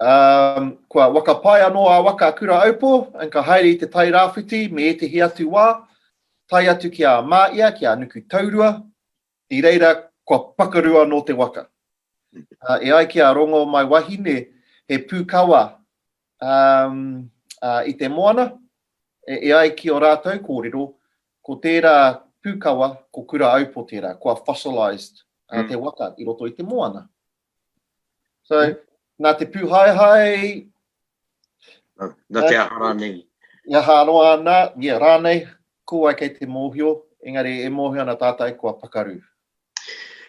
Um, kua wakapae anō a waka kura aupo, and ka haere i te tai rāwhiti me ētehi atu wā, tae atu ki a Māia, ki a Nuku Taurua, i reira kua pakaru anō te waka. Uh, e ai ki a Rongo mai wahine, he pūkawa Um, ā, i te moana, e, e ai ki o rātou kōrero, ko tērā pūkawa, ko Kura Aupo tērā, kua fossilised uh, te waka i roto i te moana. So, mm. nā te pūhaehae... Nā, nā te aha rānei. I aha aroa ana, yeah, rānei, ko ai kei te mōhio, engari e mōhio ana tātai kua pakaru.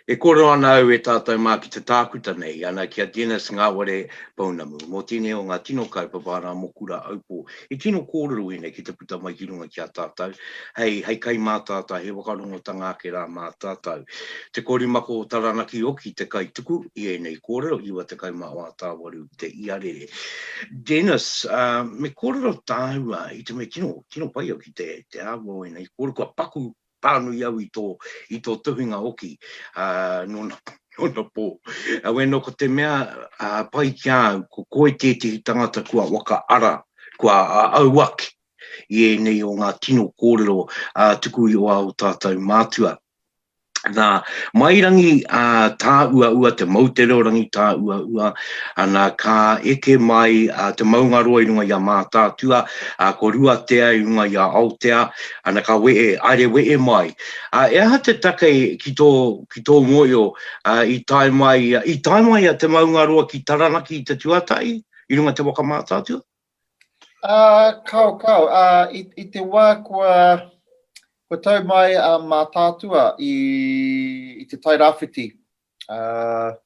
E kōrero ana au e tātou mā ki te tākuta nei, ana ki a Dennis Ngaware Pounamu, mō tēnei o ngā tino kaupapa arā mō Kura Aupō, i tino kōrero ēnei ki te puta mai ki runga ki a tātou, hei, hei kai mā tātou, hei whakarongotanga ake rā mā tātou. Te korimako o Taranaki hoki te kaituku i ēnei kōrero, 96 a Tāwaru Te Iarere. Dennis, me kōrero tāua i te mea tino, tino pai au ki te, te āhua o ēnei kōrero, kua paku pānui au i tō, i tō tuhinga hoki, ā, nōna, nōna pō. Aue nō ko te mea, ā, pai ki a au, ko koe tētehi tangata kua whakaara, kua au ake i ēnei o ngā tino kōrero, ā, tuku i wā o tātou mātua. Nā, Mairangi, ā, tāuaua, te Moutereorangi tāuaua, nā, ka eke mai, ā, te maungaroa i runga i a Mātaatua, ā, ko Ruatea i runga i a Aotea, Ana ka wehe, haere wehe mai. A, e aha te take ki tō, ki tō ngoio, a, i tae mai, i tae mai a Te Maungaroa ki Taranaki i te tuatahi, i runga i te waka mātātua? A, kāo, kāo. A, i, i te wā kua, kua tau mai a mātātua i, i te Tairāwhiti, a,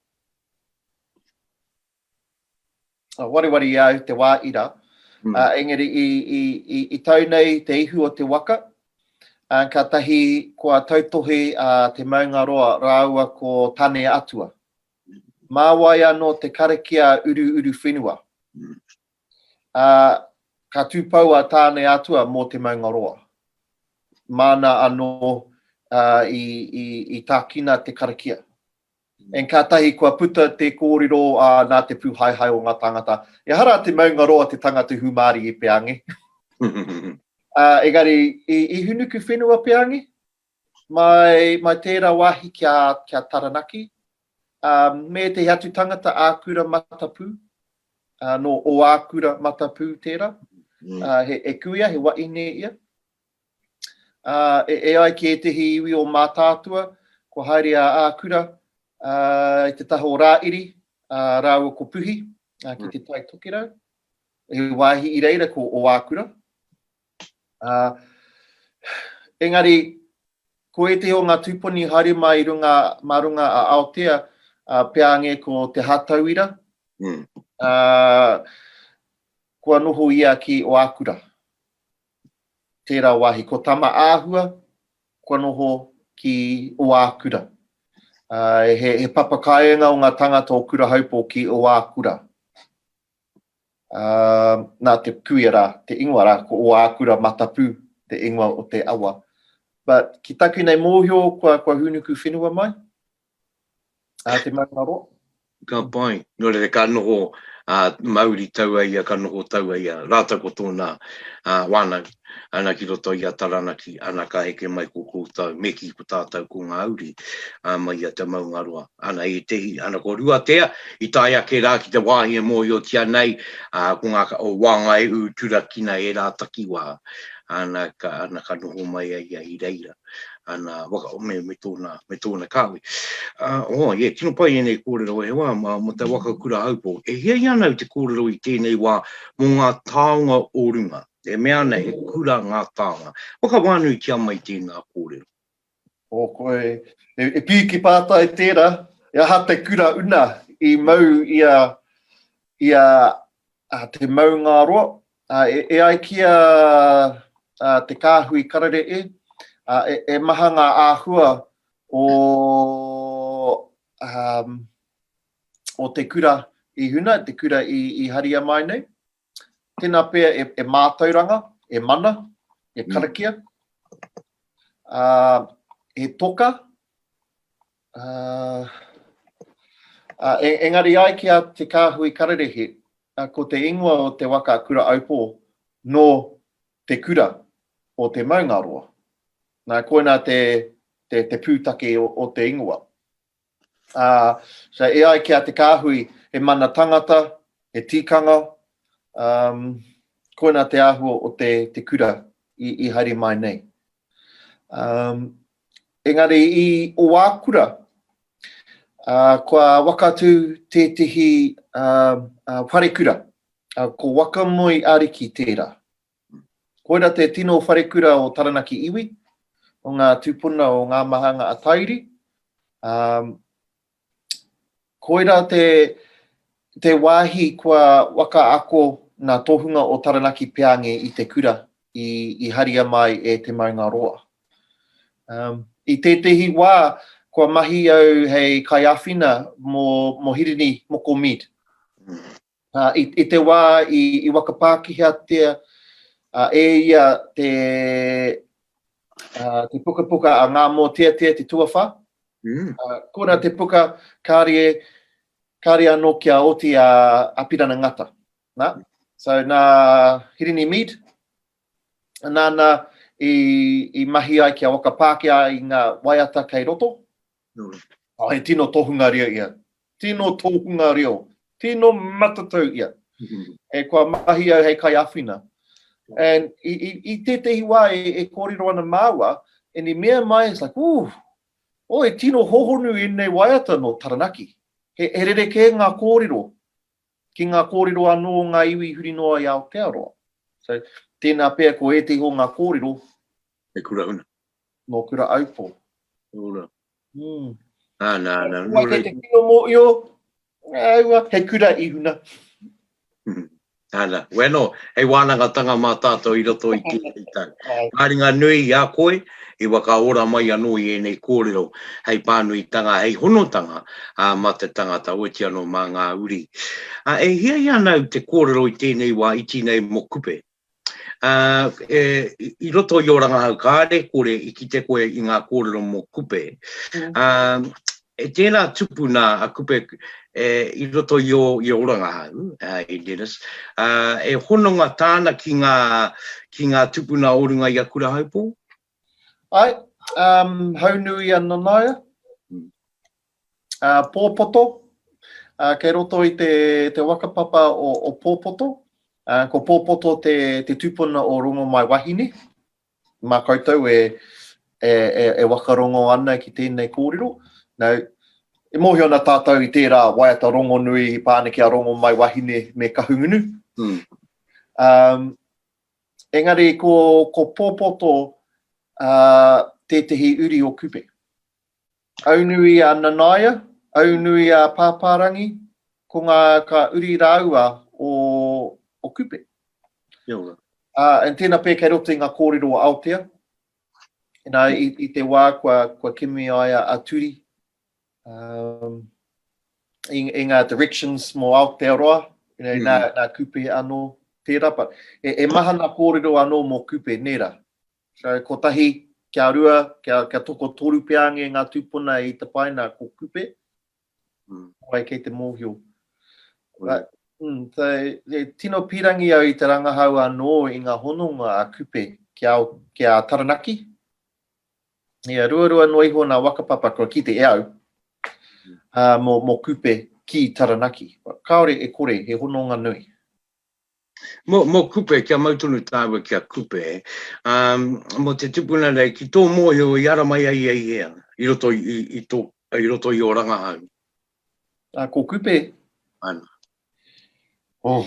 wareware i a au te wā ira. Engari i tau nei te ihu o te waka, kātahi kua tautohe a Te Maungaroa rāua ko Tane Atua. Mā wai anō te karakia uru uruwhenua? Ka tūpou a Tane Atua mō Te Maungaroa. Māna anō i tākina te karakia. And kātahi kua puta te kōrero ā nā te pūhaehae o ngā tāngata, ehara a Te Maungaroa te tangata i hūmārie e Peange. Ā, engari, i, i hūnuku whenua Peange, mai, mai tērā wāhi ki a, ki a Taranaki, ā, me ētehi atu tangata ākura matapū, ā, nō Ōākura matapū tērā, ā, he, he kuia, he waʻine ia. E ai ki ētehi iwi o Mātaatua, kua haere a Ākura i te taha o Rāiri rāua ko Puhi ki te Tai Tokerau, he wāhi i reira ko Ōākura. Engari, ko ētehi o ngā tūpuni i haere mai mā runga a Aotea, peānge ko Te Hātauira, kua noho ia ki Ōākura. tērā wāhi ko Tama āhua kua noho ki Oākura. He papakāinga o ngā tangata o Kurahaupo ki Oākura. Nā te kuia rā, te ingoa rā, ko Oākura Matapu te ingoa o te awa. But ki taku nei mōhio kua hūnuku whenua mai, Ā te maunga roa. Ka pai. Nō reira, ka noho a Mauri taua ia, ka noho taua ia rātou ko tōna wānanga ana ki roto i a Taranaki, ana ka heke mai ko koutou, me kī ko tātou ko ngā uri mai i a te maunga roa. Ana ētehi, ana ko Ruatea, i tae ake rā ki te wāhi e mōhiotia nei, ko ngā, o Wāngaehu turakina ērā takiwā, ana ka, ana ka noho mai a ia i reira. ana waka, me, me, tōna, me tōna kāhui. Uh, oh, yeah, tino pai enei kōrero e wā, ma, ma te waka kura haupo. E hia i ana te kōrero i tēnei wā mō ngā tāonga o runga. E mea ana he kura ngā tāonga. Waka wānui ki a mai tēnā kōrero. O koe, e, e pī ki pātai tērā, e aha te kura una i mau i a, i a, a te maungāroa, Ā, e ai ki a Te Kāhui Kararehe, ā, e maha ngā āhua o, ā, o te kura i huna, te kura i haria mai nei. Tēnā pea e mātauranga, e mana, e karakia, ā, he toka, Engari ai ki a Te Kāhui Kararehe, ko te ingoa o te waka a Kura-aupō nō Te Kura o Te Maungaroa. Nā, koinā te pūtake o te ingoa. So, e ai ki a Te Kāhui, he mana tangata, he tikanga, koinā te āhua o te kura i haere mai nei. Engari i Owakura, kua wakatu tētehi wharekura, ko Wakamoi Ariki tērā. Koira te tino wharekura o Taranaki iwi, o ngā tūpuna o Ngāmahanga a Tairi, Koira te te wāhi kua waka ako ngā tohunga o Taranaki Peange i te kura i i haria mai e Te Maunga Roa. Um, I tētehi wā, kua mahi au hei kaiawhina mō, mō Hirini Moko Mead. I te wā i whakapākihatia e ia te pukapuka a Ngā Mōteatea te tuawhā, kona te puka kāre anō kia oti a Apirana Ngata. So nā Hirini Mead, nāna i mahi ai kia whakapākia ai ngā waiata kei roto, Nui. Oh, he tino tohunga reo ia. Tino tohunga reo. Tino matatau ia. e kua mahi au hei kai awhina. And i, i, i tētehi wā e, e kōrero ana māua, and i mea mai, it's like, ooh, o oh, e tino hohonu ēnei waiata no Taranaki. He, he rere kē ngā kōrero, ki ngā kōrero anō o ngā iwi huri noa i Aotearoa. So, tēnā pea ko ētehi o ngā kōrero, He kura huna. No Kura Aupo. Ora. Mm. Ah, nā, nā, nō rei. Te kino mō io, aua, he kura i huna. Hmm. Ana, weno, hei wānanga tanga mā tātou i roto i tira i tau. Māringa nui i a koe, i waka ora mai anō i ēnei kōrero, hei pānui tanga, hei honotanga a, mā te tangata, oti anō mā ngā uri. A, e hia i anau te kōrero i tēnei wā iti nei mō kupe? Ā, e, i roto i ō rangahau kāre, kore i kite koe i ngā kōrero mō Kupe. Ā, e tēnā tupu nā a Kupe, e, i roto i ō, i ō rangahau, ā, e Dennis, ā, e hononga tāna ki ngā, ki ngā tupuna o runga i a Kurahaupō? Ae, um, Haunui a Nanaia, uh, Pōpoto, uh, kei roto i te, te wakapapa o, o Pōpoto, uh, ko Pōpoto te, te tupuna o Rongomai Wahine, mā koutou e, e, e, e wakarongo ana ki tēnei kōrero. Now, e mōhio ana tātou i tērā waiata rongonui i pāne ki a Rongomai Wahine me Kahungunu. Mm. Um, Engari ko Popoto tētehi uri o Kupe. Aunui a Nanaia, aunui a Pāpārangi, ko ngā ka uri rāua o Kupe. Kia ora. And tēnā pea kei roto i ngā kōrero o Aotea, i te wā kua kimi ai a Turi, Um, i, i ngā directions mō Aotearoa, you know, mm. nā, nā Kupe anō tērā, but e, e mahana kōrero anō mō Kupe, nērā. So, kotahi, kia rua, kia, kia toko toru peānge ngā tūpuna i te paina ko Kupe, mm. wai kei te mōhio. Mm. But, mm, so, e, tino pīrangi au i te rangahau anō i ngā hononga a Kupe ki a, ki a Taranaki, Ia, ruarua noa iho nā Wakapapa kua kite e au, ā, mō, mō Kupe ki Taranaki. Kāore e kore, he hononga nui. Mō, mō Kupe, kia mau tonu tāua ki a Kupe, ā, mō te tipuna nei, ki tō mōhio i ara mai ai i hea, i roto i, i, i tō, i roto i ō rangahau? Ā, ko Kupe. Ana. Oh,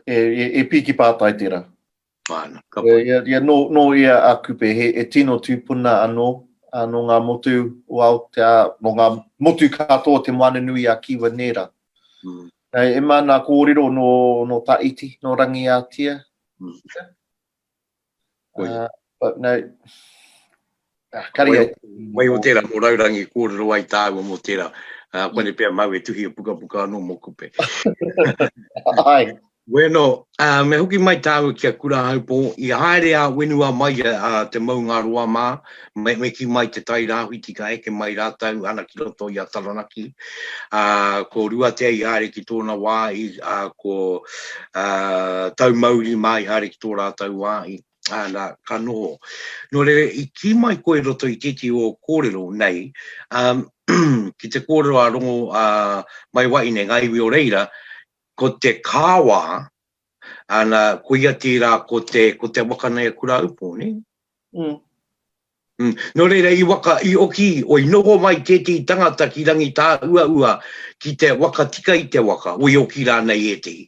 e, e, e pīki pātai tērā. Ana, ka pai. Ia, ia, nō, nō ia a Kupe, he, he tino tūpuna anō, a, nō ngā motu o Aotea, nō ngā motu katoa o Te Moananui-a-Kiwa nērā. Mm. Nei, e mā nā kōrero nō, nō Taiti, nō Rangiātia. Mm. Uh, but no, Wai o tera mo raurangi korero ai taua mo tera kone pea mau e tuhi e puka puka ano mo kupe. Weno, me hoki mai taua ki a Kurahaupō, i haere a Wenua mai a Te Maungaroa ma, me ki mai te tai Rawhiti ka eke mai ratou ana ki roto i a Taranaki. Ko Ruatea i haere ki tona wahi, ko Taumauri ma i haere ki to ratou wahi. ā, nā, ka noho. Nō reira, i kī mai koe i roto i tētehi o kōrero nei, ā, ki te kōrero a Rongo, ā, mai wahi nei, ngā iwi o reira, ko te kāwā, ā, nā, ko ia tērā ko te, ko te waka nei a Kurāupo, nē? Mm. Mm. Nō reira, i waka, i oki, o i noho mai tētehi tangata ki Rangitāuaua, ki te waka tika i te waka, o i oki rānei ētehi.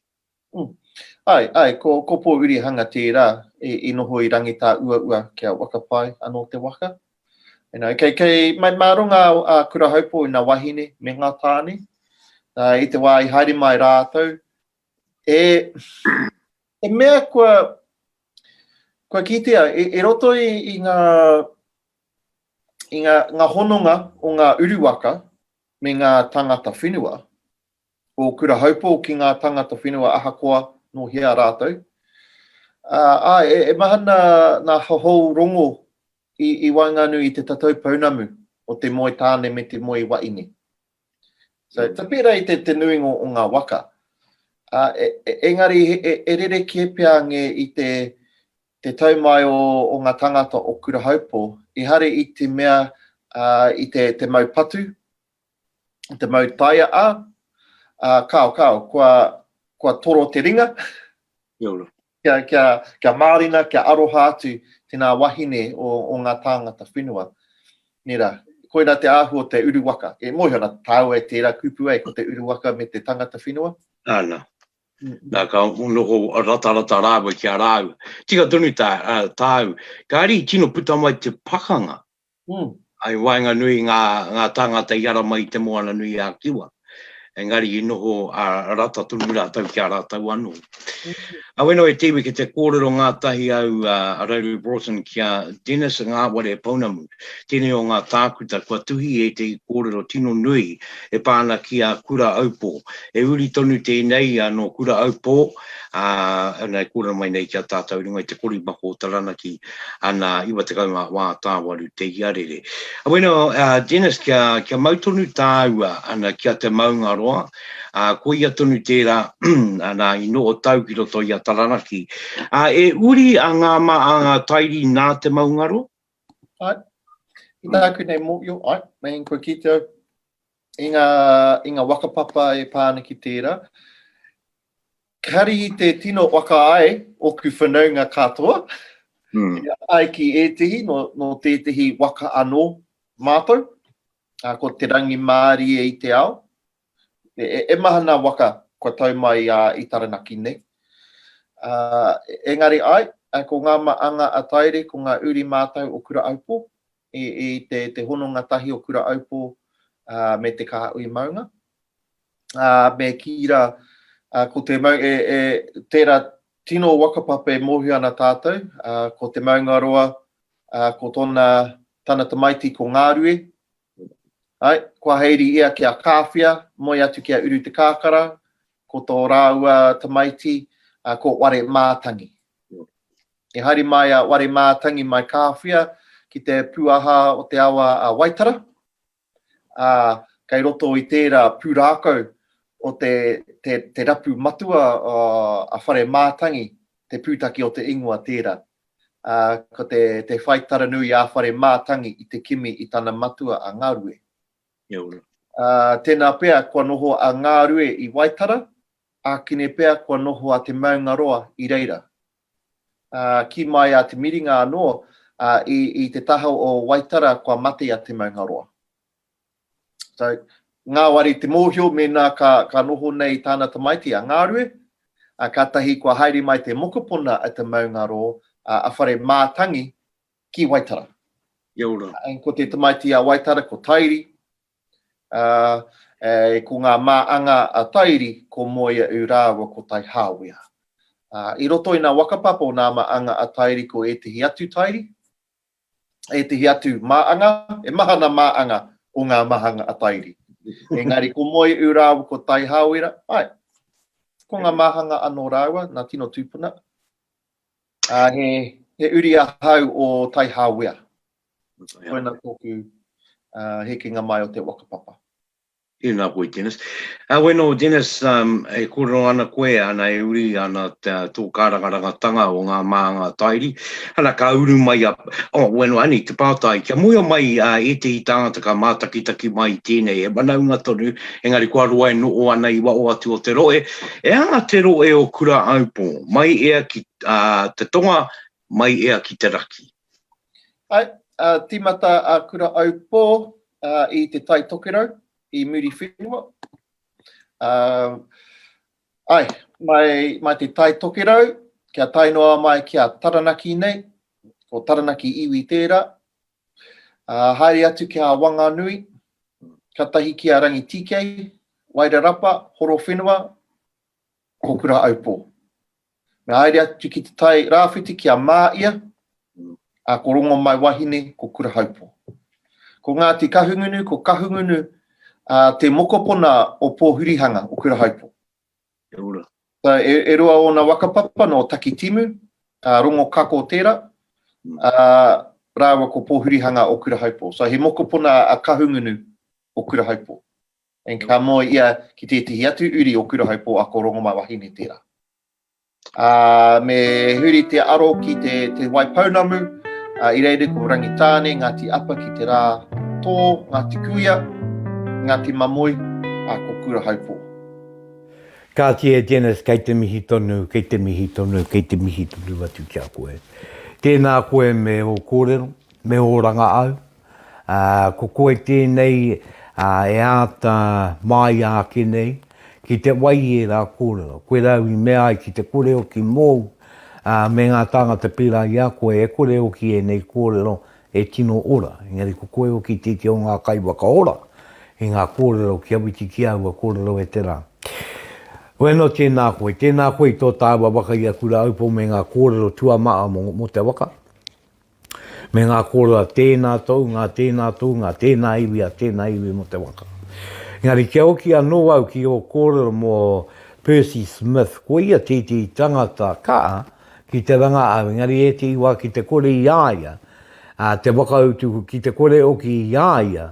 Ae, ae, ko Kopourihanga tērā i noho i Rangitāuaua kia whakapae anō te waka. Kei Maimaero ngā Kurahaupo i ngā wahine me ngā tāne. I te wā i haere mai rātou, he mea kua kitea i roto i ngā hononga o ngā uru waka me ngā tāngata whenua, o Kurahaupō ki ngā tāngata whenua ahakoa nō hea rātou. Ā, e mahana nā Hahou Rongo i waenganui i te tatau pounamu o te moe tāne me te moe waini. So, ka pērā i te nuinga o ngā waka. Ā, engari e rerekē pea ngē i te tau mai o ngā tāngata o Kurahaupō, ehara i te mea i te mau patu, te mau taia a, a kao kao, kua, kua toro te ringa. kia, kia, kia mārina, kia aroha atu tēnā wahine o, o ngā tāngata whenua. Nera, koira te ahu o te uruwaka. E mohi ana tāua e tērā kupu ai, ko te uruwaka me te tangata whenua. Ana. Mm. Nā, ka noho ratarata rāua ki a rāua. Tika tonu tā, uh, tāu, kāri tino puta mai te pakanga I waenganui i ngā tāngata i ara mai i Te Moana-nui-a-Kiwa, engari i noho rata tonu rātou ki a rātou anō. Awhenua e te iwi ki te kōrero ngātahi au a Rarue Broughton ki a Dennis Ngāware Pounamu, tēnei o ngā tākuta kua tuhi i ētehi kōrero tino nui e pā ana ki a Kura Aupō. He uri tonu tēnei nō Kura Aupō, ā, ina e kōrero mai nei ki a tātou runga i te korimako o Taranaki, ana, 90 ngā wā tāwaru te iarere. Bueno, ā, Dennis, kia, kia mau tonu tāua, ana, ki a Te Maungaroa, ā, koia tonu tērā, ana, i noho tau ki roto i a Taranaki. Ā, e uri a Ngāma a Ngā Tairi nā Te Maungaroa? Ai, i tāku nei mōhio, ai, meinga kua kite au, i ngā, i ngā waka papa e pā ana ki tērā, Kari i te tino waka ai oku whanaunga katoa, i a ai ki etehi no, no tetehi waka ano matou, a, ko te rangimaarie i te ao. E, e, e maha na waka kua tau mai a, i Taranaki nei. A, engari ai, ko nga maanga a Taire, ko nga uri matou o Kura-aupō, i, i te, te hononga tahi o Kura-aupō, a, me te Kaha-ui-maunga, ā, me kī rā, ā, ko te mau, e, e, tērā tino waka papa e mōhio ana tātou, ā, ko Te Maungaroa, ā, ko tōna, tana tamaiti ko Ngārue, ai, kua haere ia ki a Kāwhia, moe atu ki a Uru Te Kākara, ko tō rāua tamaiti, ā, ko Ware Mātangi. I haere mai a Ware Mātangi mai Kāwhia ki te pūaha o te awa a Waitara, ā, kei roto i tērā pūrākau o te, te, te rapu matua a Whare Mātangi, te pūtake o te ingoa tērā. Ā, ko te, te whai taranui a Whare Mātangi i te kimi i tana matua a Ngārue. Kia ora. Ā, tēnā pea kua noho a Ngārue i Waitara, ākene pea kua noho a Te Maungaroa i reira. Kī mai a Te Miringa anō, i te taha o Waitara kua mate a Te Maungaroa. So, ngāwari te mōhio mēnā ka noho nei tāna tamaiti a Ngarue, kātahi kua haere mai te mokopuna a Te Maungaro, a Whare Mātangi, ki Waitara. Kia ora. Ko te tamaiti a Waitara ko Tairi, Ā, e, ko ngā mā anga a Tairi, ko Moeaʻu rāua ko Taihāwea. Ā, i roto i nā waka papa o nā mā anga a Tairi ko ētehi atu Tairi, ētehi atu mā anga, he maha nā mā anga o ngā mā anga a Tairi. Engari ko Moeaʻu rāua ko Taihāwera, āe, ko ngā mā anga anō rāua, nā tino tūpuna. Ā, he, he uri ahau o Taihāwea. Koina tōku hekenga mai o te whakapapa. Tēnā koe Dennis. Wena o Dennis, e kōrero ana koe, ana e uri ana tō kārangarangatanga o ngā mānga tairi, ana ka uru mai a, oh wena o Annie te pātai, kia muia mai ētehi tāngata ka mātakitaki mai i tēnei, he manaunga tonu, engari kua roa e noho ana i waho atu o te rohe, e anga te rohe o Kura Aupō, mai ea ki te tonga, mai ea ki te raki. Ae, a timata a Kura Aupō i Te Tai Tokerau, i Muriwhenua. Ae, mai Te Tai Tokerau, kia tae noa mai ki a Taranaki nei, ko Taranaki iwi tērā. Haere atu ki a Wanganui, katahi ki a Rangitīkei, Wairarapa, Horowhenua, ko Kura Aupō. Me haere atu ki te tai rāwhiti ki a Mā ia, a ko Rongomaiwahine ko Kurahaupō. Ko Ngāti Kahungunu, ko Kahungunu a te mokopona o Pōhurihanga, o Kurahaupō. E ora. So, e, e rua ōna waka papa nō Takitimu, a Rongokako tērā, a, rāua ko Pōhurihanga o Kurahaupō. So, he mokopona a Kahungunu o Kurahaupō. And ka moe ia ki tētehi atu uri o Kura Haupō ako Rongomaiwahine tērā. Ā, me huri te aro ki te Te Waipounamu, ā, i reira ko Rangitāne, Ngāti Apa ki te rā tō, Ngāti Kuia, Ngāti Mamoi, ā, ko Kura Haupō. Kāti e Dennis kei te mihi tonu, kei te mihi tonu, kei te mihi tonu atu ki a koe. Tēnā koe me ō kōrero, me ō ranga au. Ā, ko koe tēnei e āta māia ake nei ki te wai i ērā kōrero, koe rāu i mea ai ki te kore hoki mōu me ngā tāngata pērā i a koe e kore hoki ēnei kōrero e tino ora. Engari ko koe hoki tētehi o ngā kaiwhakaora i ngā kōrero kia whiti ki aua kōrero e te rā. Koe anō tēnā koe, tēnā koe i tō tāua waka i aku rāupo me ngā kōrero tuamaha mō te waka. Me ngā kōrua, tēnā tōu, ngā tēnā tōu, ngā tēnā iwi a tēnā iwi mō te waka. Engari kia hoki anō au ki ō kōrero mō Percy Smith, ko ia tētehi tangata kaha ki te rangahau, engari ētehi wā ki te kore i a ia te whakautu, ki te kore hoki i a ia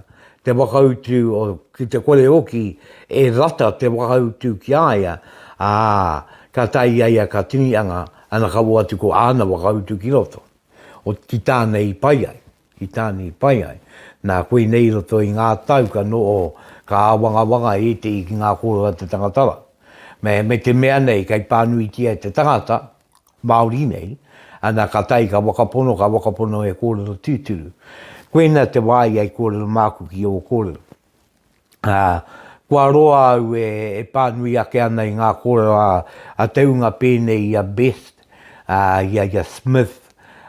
te whakautu, ki te kore hoki e rata te whakautu ki a ia, ā, ka tae i a ia ka tini anga, Ana ka wo atu ko ana whakautu ki roto o ki tāna i pai ai, ki tāna i pai ai. Nā, koinei i roto i ngā tau ka noho, ka āwangawanga e ētehi ki ngā kōrero a te tangatara, me, me te mea nei kei pānuitia e te tangata, Māori nei, ana ka tae ka whakapono, ka whakapono he kōrero tūturu. Koina te wā ia i kōrero māku ki ō kōrero. ā, kua roa au e pānui ake ana i ngā kōrero a te ūnga pēnei i a Best, ā, i a ia Smith,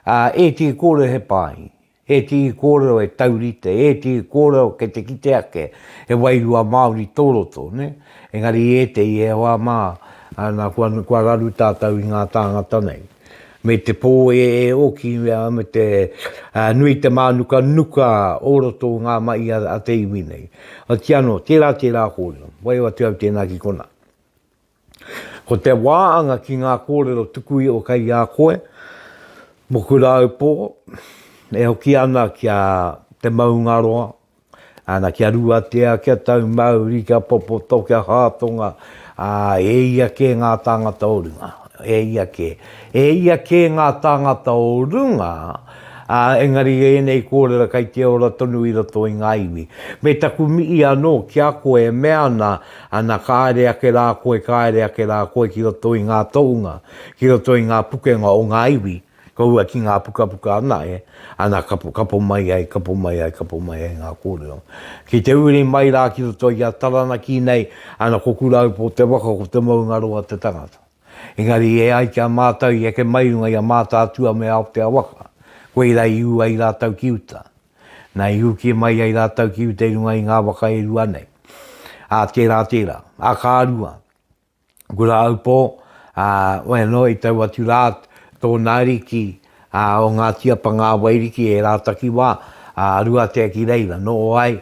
ā, ētehi kōrero he pai, ētehi kōrero e taurite, ētehi kōrero kei te kite ake he wairua Māori tō roto, nē? Engari i ētehi e hoa mā, nā, kua raru tātou i ngā tāngata nei. me te pō e ōki me te nui i te mānukanuka o roto o ngā mahi a te iwi nei. Otiia anō, tērā, tērā kōrero. Waio atu au tēnā ki konā. Ko te wāanga ki ngā kōrero tuku iho kei a koe, moku rāupō, e hoki ana ki a te maungaroa, Ana kia ruatea, kia taumauri, kia popoto, kia hātonga, ā, e ia kē ngā tāngata o runga. E ia kē. E ia kē ngā tāngata o runga, ā, engari ēnei kōrera kei te ora tonu i roto i ngā iwi. Me taku mihi anō ki a koe e mea ana, ana kāre ake rā koe, kāre ake rā koe ki roto i ngā tohunga, ki roto i ngā pukenga o ngā iwi. Kaua ki ngā pukapuka ana e, ana kapo, kapo mai ai, kapo mai ai, kapo mai ai ngā kōrero. Ki te uri mai rā ki roto i a Taranaki nei, ana ko Kuraupō te waka, ko Te Maungaroa te tangata. Engari e ai ki a mātou i eke mai runga i a Mātaatua me Aoteawaka, koirā i ū ai rātou ki uta. Na, i uki mai ai rātou ki uta i runga i ngā waka e rua nei. Ā, tērā, tērā. Ā, ka rua. Kuraupō, ā, waenganō i taua atu rā tōna ariki, ā, o Ngāti Apa ngā Wairiki e rā takiwā, ā, Ruatea ki reira, nō ai,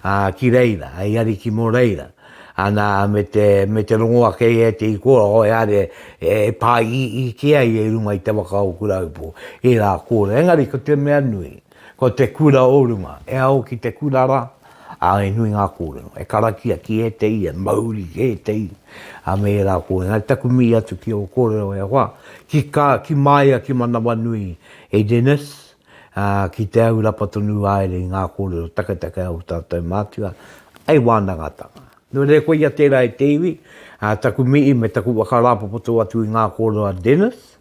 ā, ki reira, hei ariki mō reira, ana me te, me te rongo ake ia e te Ikoa, oeare e pā iiii kē ai e runga i te waka o Kuraupō, ērā kōrero, engari ko te mea nui, Ko te kura o runga, e ao ki te kura ra, a e nui nga korero, e karakia ki etehi, e mauri ki etehi, a me era korero. Engari taku mii atu ki o korero e hoa, ki ka, ki maia ki Manawanui e Dennis, a, ki te au rapa tonu aere i nga korero taketake a o tatou matua, hei wanangatanga. No reira koia tera e te iwi, a taku mii me taku whakarapopoto atu i nga korero a Dennis,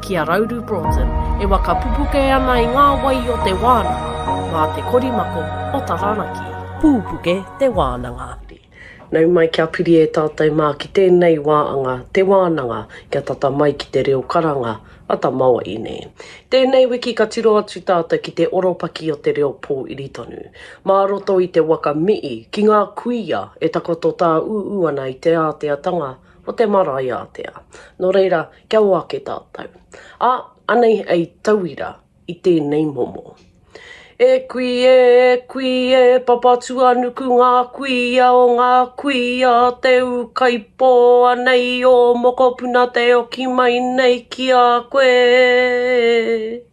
ki a Rauru Broughton e waka pupuke ana i ngā wai o te wānanga mā te korimako o Taranaki. Pūpuke te wānanga. Nau mai kia piri e tātou mā ki tēnei wā anga te wānanga kia tata mai ki te reo karanga a tamawaine. Tēnei wiki ka tiro atu tātou ki te oropaki o te reo pōiri tonu. Mā roto i te waka Mii ki ngā kuia e takoto tāūū ana i te āteatanga o te marae ātea. Nō reira, kia ō ake tātou. Ā, anei hei tauira i tēnei momo. E kui e, e kui e, Papatuanuku ngā kuia o ngā kuia a Te Ūkaipō, anei ō mokopuna te oki mai nei ki a koe e.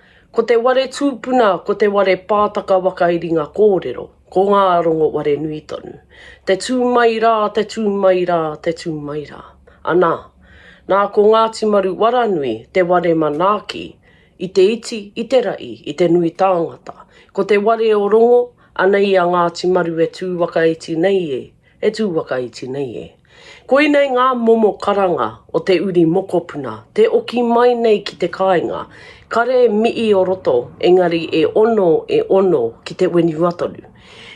Ko te ware tūpuna ko te ware pātaka waka i ringa kōrero, ko ngā rongo ware nui tonu. Te tū mai rā, te tū mai rā, te tū mai rā. Anā, nā ko Ngāti Maru Waranui te ware manaaki i te iti, i te raʻi, i te nui tāngata. Ko te ware o Rongo, anei a Ngāti Maru e tū wakaiti nei e, E tū whakaiti nei e. Koinei ngā momo karanga o te uri mokopuna, te oki mai nei ki te kāinga, kare mii o roto, engari e ono, e ono ki te whenua tonu.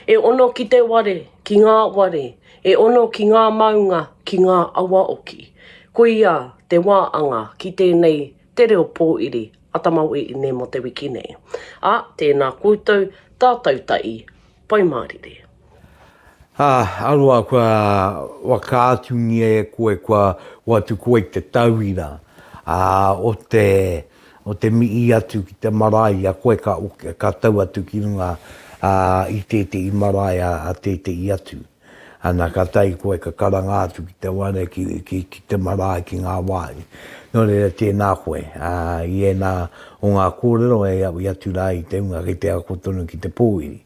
E ono ki te ware, ki ngā ware, e ono ki ngā maunga, ki ngā awa oki. Koia te wā anga ki tēnei Te Reo Pōiri a Tamaoeine mō te wiki nei. A, tēnā koutou, tātau tahi, Pai Mārire. Ā, aroa kua whakaatungia e koe kua hoatu koe i te tauira, ā, o te, o te mihi atu ki te marae i a koe ka, ka tau atu ki runga, ā, i tētehi marae a, a tētehi atu. Ana ka tae koe ka karanga atu ki te wā nei ki, ki, ki te marae, ki ngā wāhi. Nō reira tēnā koe, ā, i ēnā o ngā kōrero e aui atu rā i te hunga kei te ako tonu ki te pōwhiri,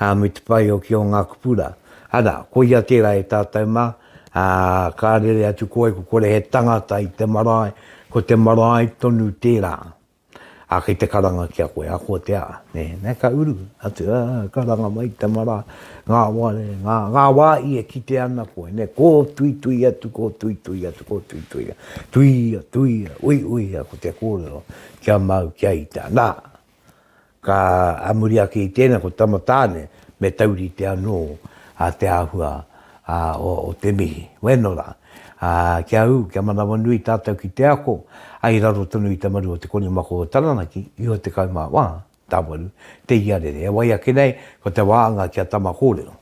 ā, me te pai hoki o ngā kupu rā. Ana, koia tērā e tātou mā, ā, ka rere atu koe, ko kore he tangata i te marae, ko te marae tonu tērā. Ā, kei te karanga ki a koe, ahakoa te aha, nē, nē, ka uru atu, ā, karanga mai te mara, ngā wā, ngā, ngā wā i e kite ana koe, nē, kōtuitui atu, kōtuitui atu, kōtuitui atu, tuia, tuia, uiuia, ko te kōrero, kia mau, kia ita, nā! Ka a muri ake i tēnā ko Tama Tāne me taurite anō te āhua o te mihi. Wēnō rā, kia ū, kia manawanui tātou ki te ako i raro tonu i te maru o Te Konimako o Taranaki, iho 14, Te Iarere. E wai ake nei, ko te wāanga ki a Tama kōrero.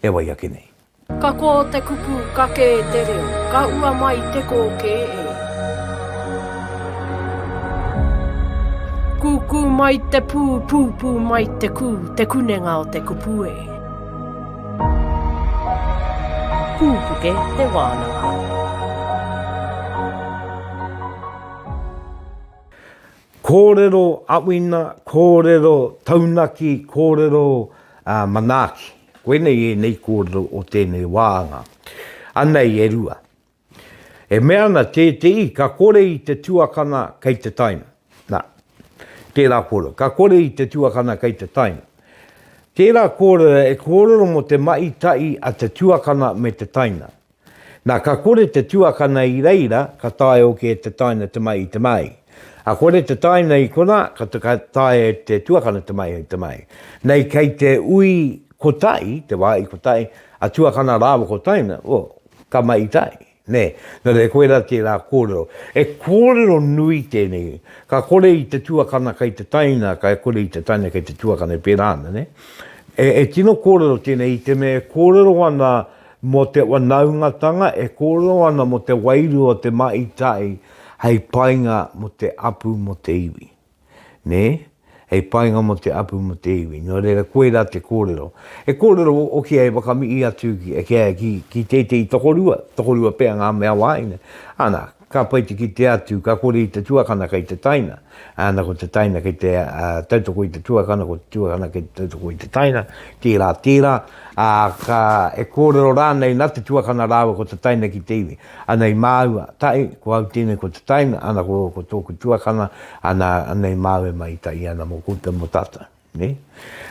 e wai ake nei. Ka kō te kupu, ka kē te reo, ka ua mai te kōkē e. Kūkū mai te pū, pūpū mai te kū, te kunenga o te kupu e. Pūpuke te wānanga. Kōrero awina, kōrero taunaki, kōrero manaaki. Koinei ēnei kōrero o tēnei wā anga. Anei e rua. E mea ana tēteī, ka kore i te tuakana kei te taina. Na, tērā kōrero. Ka kore i te tuakana kei te taina. Tērā kōrero e kōrero mō te mahi tahi a te tuakana me te taina. Nā, ka kore te tuakana i reira, ka taea hoki e te taina te mai i te māi. A kore te taina i konā, ka taea e te tuakana te mai i te māi. Nei kei te ui kotahi, te wā i kotahi, a tuakana rāua ko taina, o, ka mai i tai, nē. Nō reira, koirā tērā kōrero. He kōrero nui tēnei. Ka kore i te tuakana kei te taina, ka kore i te taina kei te tuakana, e pērā ana, nē. E, e tino kōrero tēnei i te mea e kōrero ana Mō te wanaungatanga e kōrero ana mō te wairua o te Mahi Tai hei painga mō te apu mō te iwi. Nē? Hei painga mō te apu mō te iwi. Nō reira, koirā te kōrero. He kōrero hoki hei whakamihi atu ki tētehi tokorua, tokorua pea ngā mea wāhine. Ana, Ka pai te kite atu, ka kore i te tuakana kei te taina, ana ko te taina kei te tautoko i te tuakana, ko te tuakana kei te tautoko i te taina, tērā tērā, ā, ka, e kōrero rānei nā te tuakana rāua ko te taina ki te iwi. Ana i māua, tae, ko au tēnei ko te taina, ana ko, ko tōku tuakana, ana, ana i māua e mahi tahi ana mō koutou, mō tātou. Nē?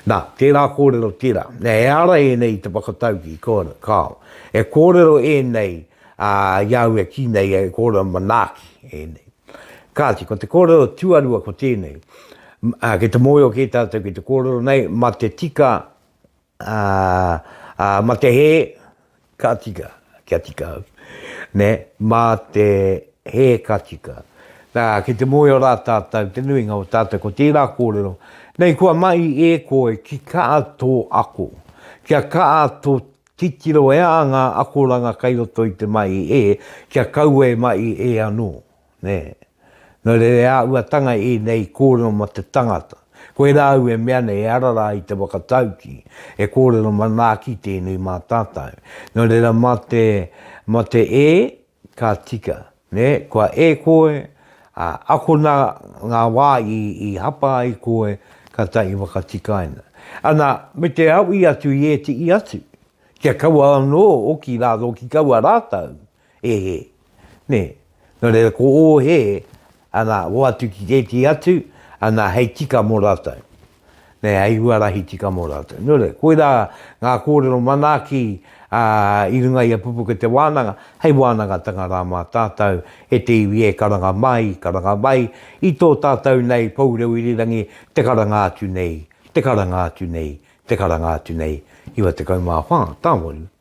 Nā, tērā kōrero tērā. Nē, e ara ēnei i te whakataukī, kāo. E kōrero ēnei, ā, i a au e kī nei, e kōrero manaaki ēnei. Kāti, ko te kōrero tuarua ko tēnei, ā, kei te mōhio kē tātou ki te kōrero nei, mā te tika Ā, ā, ma te hē, ka tika, kia tika au. Nē, mā te hē ka tika. Nā, ki te moe o rā tātou, te nuinga o tātou, ko tērā kōrero, Nei kua mahi e koe ki kaa tō ako, kia kaa tō titiro e a ngā akoranga kei roto i te mahi e, kia kaua e mahi e anō. Nē. Nō reira e āhuatanga ēnei kōrero mō te tangata. Koirā au e mea nei, ehara rā i te whakatauki, e kōrero manaaki tēnei mā tātou. Nō reira mā te, mā te e, ka tika. Nē, kua e koe, ā, akona ngā wā i, i hapa ai koe, kātahi i whakatikaina. Ana, me te aui atu i ētehi atu, kia kaua anō hoki rātou ki kaua rātou. He hē. Nē. Nō reira, ko ō hē, anā, hoatu ki tētehi atu, anā, hei tika mō rātou. Nē, hei huarahi tika mō rātou. Nō reira, koirā ngā kōrero manaaki i runga i a Pupuke Te Wānanga, hei wānangatanga rā mā tātou, e te iwi e karanga mai, karanga mai, i tō tātou nei Poureu Irirangi, te karanga atu nei, te karanga atu nei, te karanga atu nei, 94.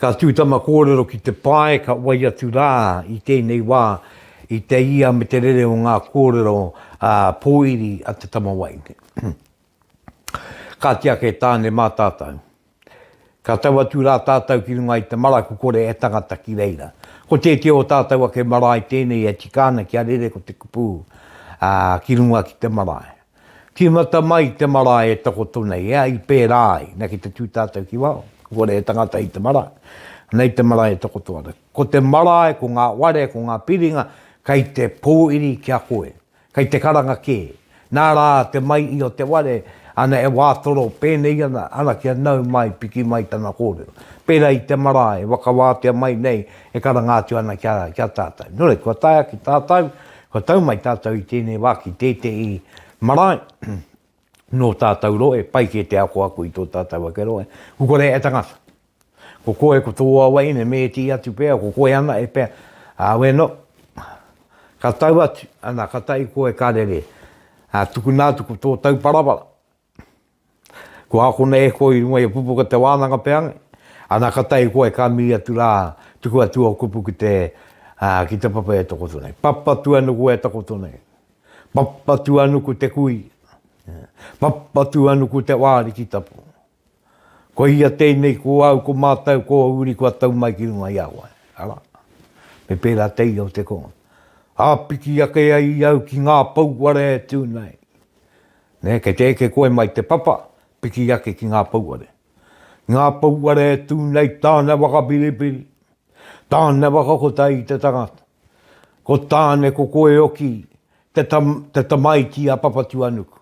Ka tū tama kōrero ki te pae ka wai atu rā i tēnei wā i te ia me te rere o ngā kōrero pōiri a te tama wai. Kāti ake e Tāne mā tātou. Ka tau atu rā tātou ki runga i te maraku kore e tangata ki reira. Ko tētehi o tātou ake marae tēnei e tika ana kia rere ko te kupu ki runga ki te marae. Tīmata mai te marae e takoto nei, ea, i pērā ai, na, ki te tū tātou ki wao, kore he tangata i te marae, nei te marae e takoto ana. Ko te marae, ko ngā ware, ko ngā piringa, kei te pōiri ki a koe, kei te karanga kē, nā rā te mai i o te ware, ana e wātoro pēnei ana, ana kia nau mai, piki mai tana kōrero. Pērā i te marae, e wakawātea mai nei, e karanga atu ana ki a, ki a tātou. Nō reira, kua taea ki tātou, Kua tau mai tātou i tēnei wā ki tētehi marae nō tātou rohe, pai kē te ako aku i tō tātou ake rohe. Ko kore e tangata. Ko koe, ko tō waweine me ētehi atu pea, ko koe ana e pea. Ā, weno, ka tau atu, ana, katahi koe ka rere. Ā, tukuna atu ko tō tauparapara, Ko akona e koe i runga i a Pupuka te wānanga pea nei, ana ka tae koe ka miri atu rā tuku atu au kupu ki te ki te papa e takoto nei. Papatu anuku e takoto nei. Papatu anuku te kui. Papatu anuku te wāri ki tapu. Ko ia tēnei ko au ko mātau ko uri kua tau mai ki runga i a koe. Ara. Me pērā te ia o te ko. Āpiki ake ai i au ki ngā pouware e tū nei. Nē, kei te eke koe mai te papa, piki ake ki ngā pouare. Ngā pouare e tū nei tāna whakapiripiri, tāna whakakotahi i te tangata. Ko Tāne ko Koeoki te, tam, te tamaiti a Papatuanuku.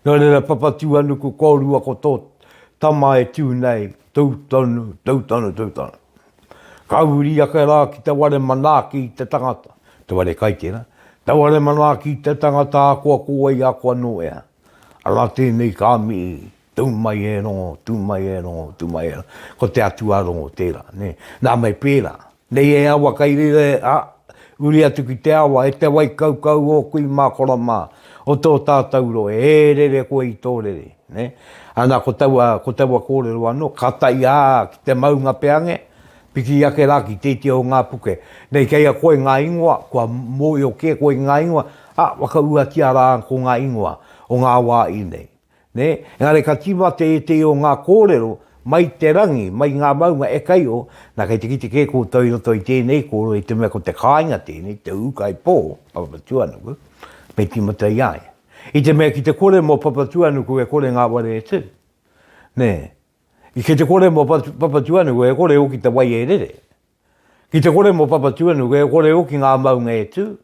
Nō reira Papatuanuku kōrua ko tō tama e tū nei, tū tonu, tū tonu, tū tonu. Ka huri ake rā ki te ware manaaki i te tangata, te ware kai tērā, te ware manaaki i te tangata ahakoa ko wai ako anō ea. Arā tēnei ka mihi, tū mai e rongo, tū mai e rongo, tū mai e rongo. Ko te atua rongo tērā, nē. Nā me pērā. Nei he awa kai reira e, a, huri atu ki te awa, e te wai kaukau o kui mā kora mā, o tō tātau rohe, e rere koe i tō rere. Nē? Ana ko taua, ko taua kōrero anō, ka tae ā ki te maunga peange, piki ake rā ki tētia o ngā puke. Nei kei a koe ngā ingoa, kua mōhio kē koe i ngā ingoa, ā, whakauatia rā ko ngā ingoa o ngā wā i nei. Nē? Engari ka tīma tētehi o ngā kōrero mai te rangi, mai ngā maunga e kai o, nā kei te kite kē koutou i roto i tēnei kōrero i te mea ko te kāinga tēnei, te ūkaipō, Papatūānuku, me tīmata i a ia. I te mea ki te kore mo Papatuanuku e kore ngaware e tu. Ne. I ki te kore mo Papatuanuku e kore hoki te wai e rere. Ki te kore mo Papatuanuku e kore hoki nga maunga e tu.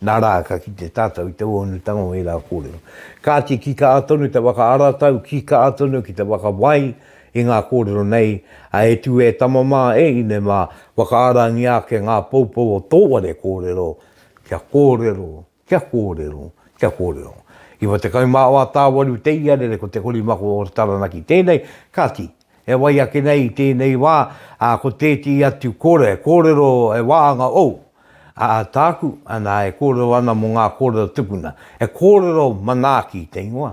Na ra ka kite tatou i te uonutanga o era korero. Kati ki kaa tonu te waka aratau, ki kaa tonu ki te waka wai i nga korero nei, a e tu e tama ma e ine ma, waka arangia ake nga poupou o to ware korero, kia korero Kia kōrero, kia kōrero. Iwa tekau mā wā tāwaru te iarere ko Te Korimako o Taranaki tēnei, kāti, e wai ake nei i tēnei wā, ā, ko tēti atu kore, kōrero e wāanga ou, ā, tāku, anā, e kōrero ana mō ngā kōrero tupuna, he kōrero manaaki te ingoa,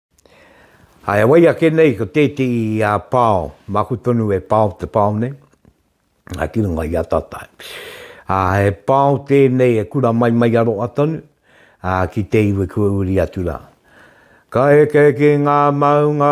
Hai a wai ake nei ko tētehi pao, maku tonu e pao te pao nei, ki runga i a tatai. He pao tēnei e kura mai mai a roa tonu ki te iwi kua uri atu rā. Ka heke ki ngā maunga,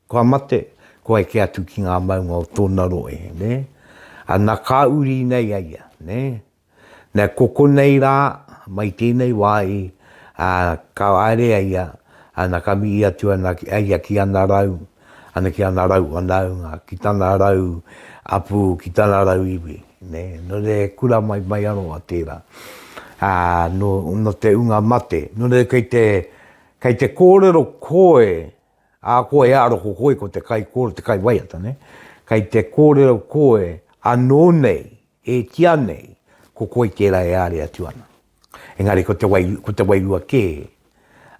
Kua mate, kua eke atu ki ngā maunga o tōna rohe, nē. Ana ka uri nei a ia, nē. Nē, ko konei rā, mai tēnei wā i, ā, ka haere a ia, ana ka mihi atu ana a ia ki ana rau, ana ki ana rau whanaunga, ki tana rau hapū, ki tana rau iwi, nē. Nō reira he kura mai, mai aroha tērā. Ā, nō, nō te unga mate, nō reira kei te, kei te kōrero koe, Ā, koe e aro ko koe ko te kaikōrero, te kaiwaiata, nē? Kei te kōrero koe anō nei, e tia nei, ko koe tērā e āre atu ana. Engari ko te wai, ko te wairua kē,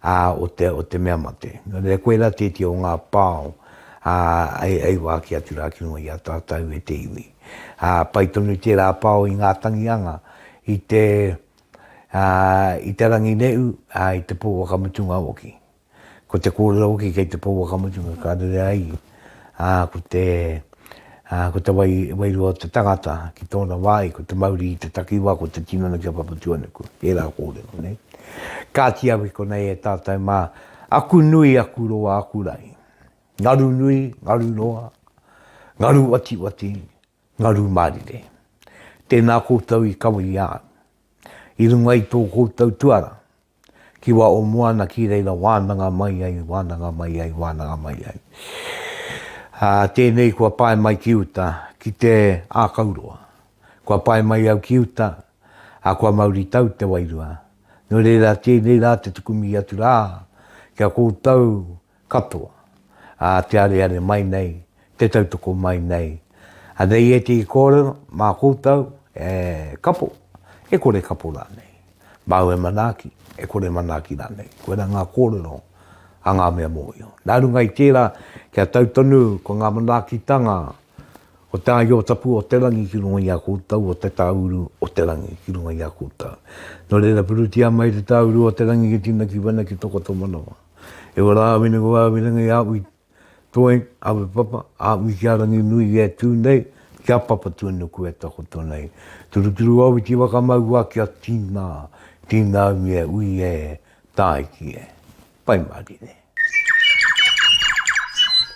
ā, o te, o te mea mate. Nō reira, koe rā tētia o ngā pao, ā, e, e ua ake atu rā ki runga i a tātou e te iwi. Ā, pai tonu tērā pao i ngā tangi anga, i te, ā, i te rangi ne'u, ā, i te pō whakamutunga hoki. Ko te kōrero hoki kei te pouaka mutunga ka rere ai, ā, ko te, ā, ko te wai, wairua o te tangata ki tōna wāhi, ko te mauri i te takiwā, ko te tinana kia Papatuanuku, ērā kōrero, nei. Kāti au i konei e tātou mā, aku nui, aku roa, aku rahi. Ngaru nui, ngaru roa, ngaru watiwati, ngaru mārire. Tēnā koutou i kawe i a au. I runga i tō koutou tuara, ki wa o moana ki reira wananga mai ai wananga mai ai wananga mai ai a tenei kua pae mai ki uta ki te akauroa kua pae mai au ki uta a kua mauri tau te wairua no reira tenei ra te tuku mi atu ra kia koutou Katoa. Ā, te areare mai nei, te tautoko mai nei, anei ētehi kōrero mā koutou e kapo, e kore kapo rānei, māu e manaaki, e kore manaaki rānei. Koirā ngā kōrero a ngā mea mōhio. Nā runga i tērā, kia tau tonu ko ngā manaakitanga o Te Āiotapū-o-te-rangi ki runga i a koutou, o Te Tāuru o te Rangi ki runga i a koutou. Nō reira, purutia mai Te Tāuru o te Rangi ki tīna, ki wena, ki tō koutou manawa. E wa rā wina ko wā wina ngai āwi toi, āwi papa, āwi ki a rangi nui i e tū nei, ki a papa tū nuku e takoto nei. Turuturu au i te wakamau wā ki a tīnā, tīnā umi e ui e, tāiki e. Pai Marine.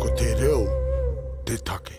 Ko te reo te take.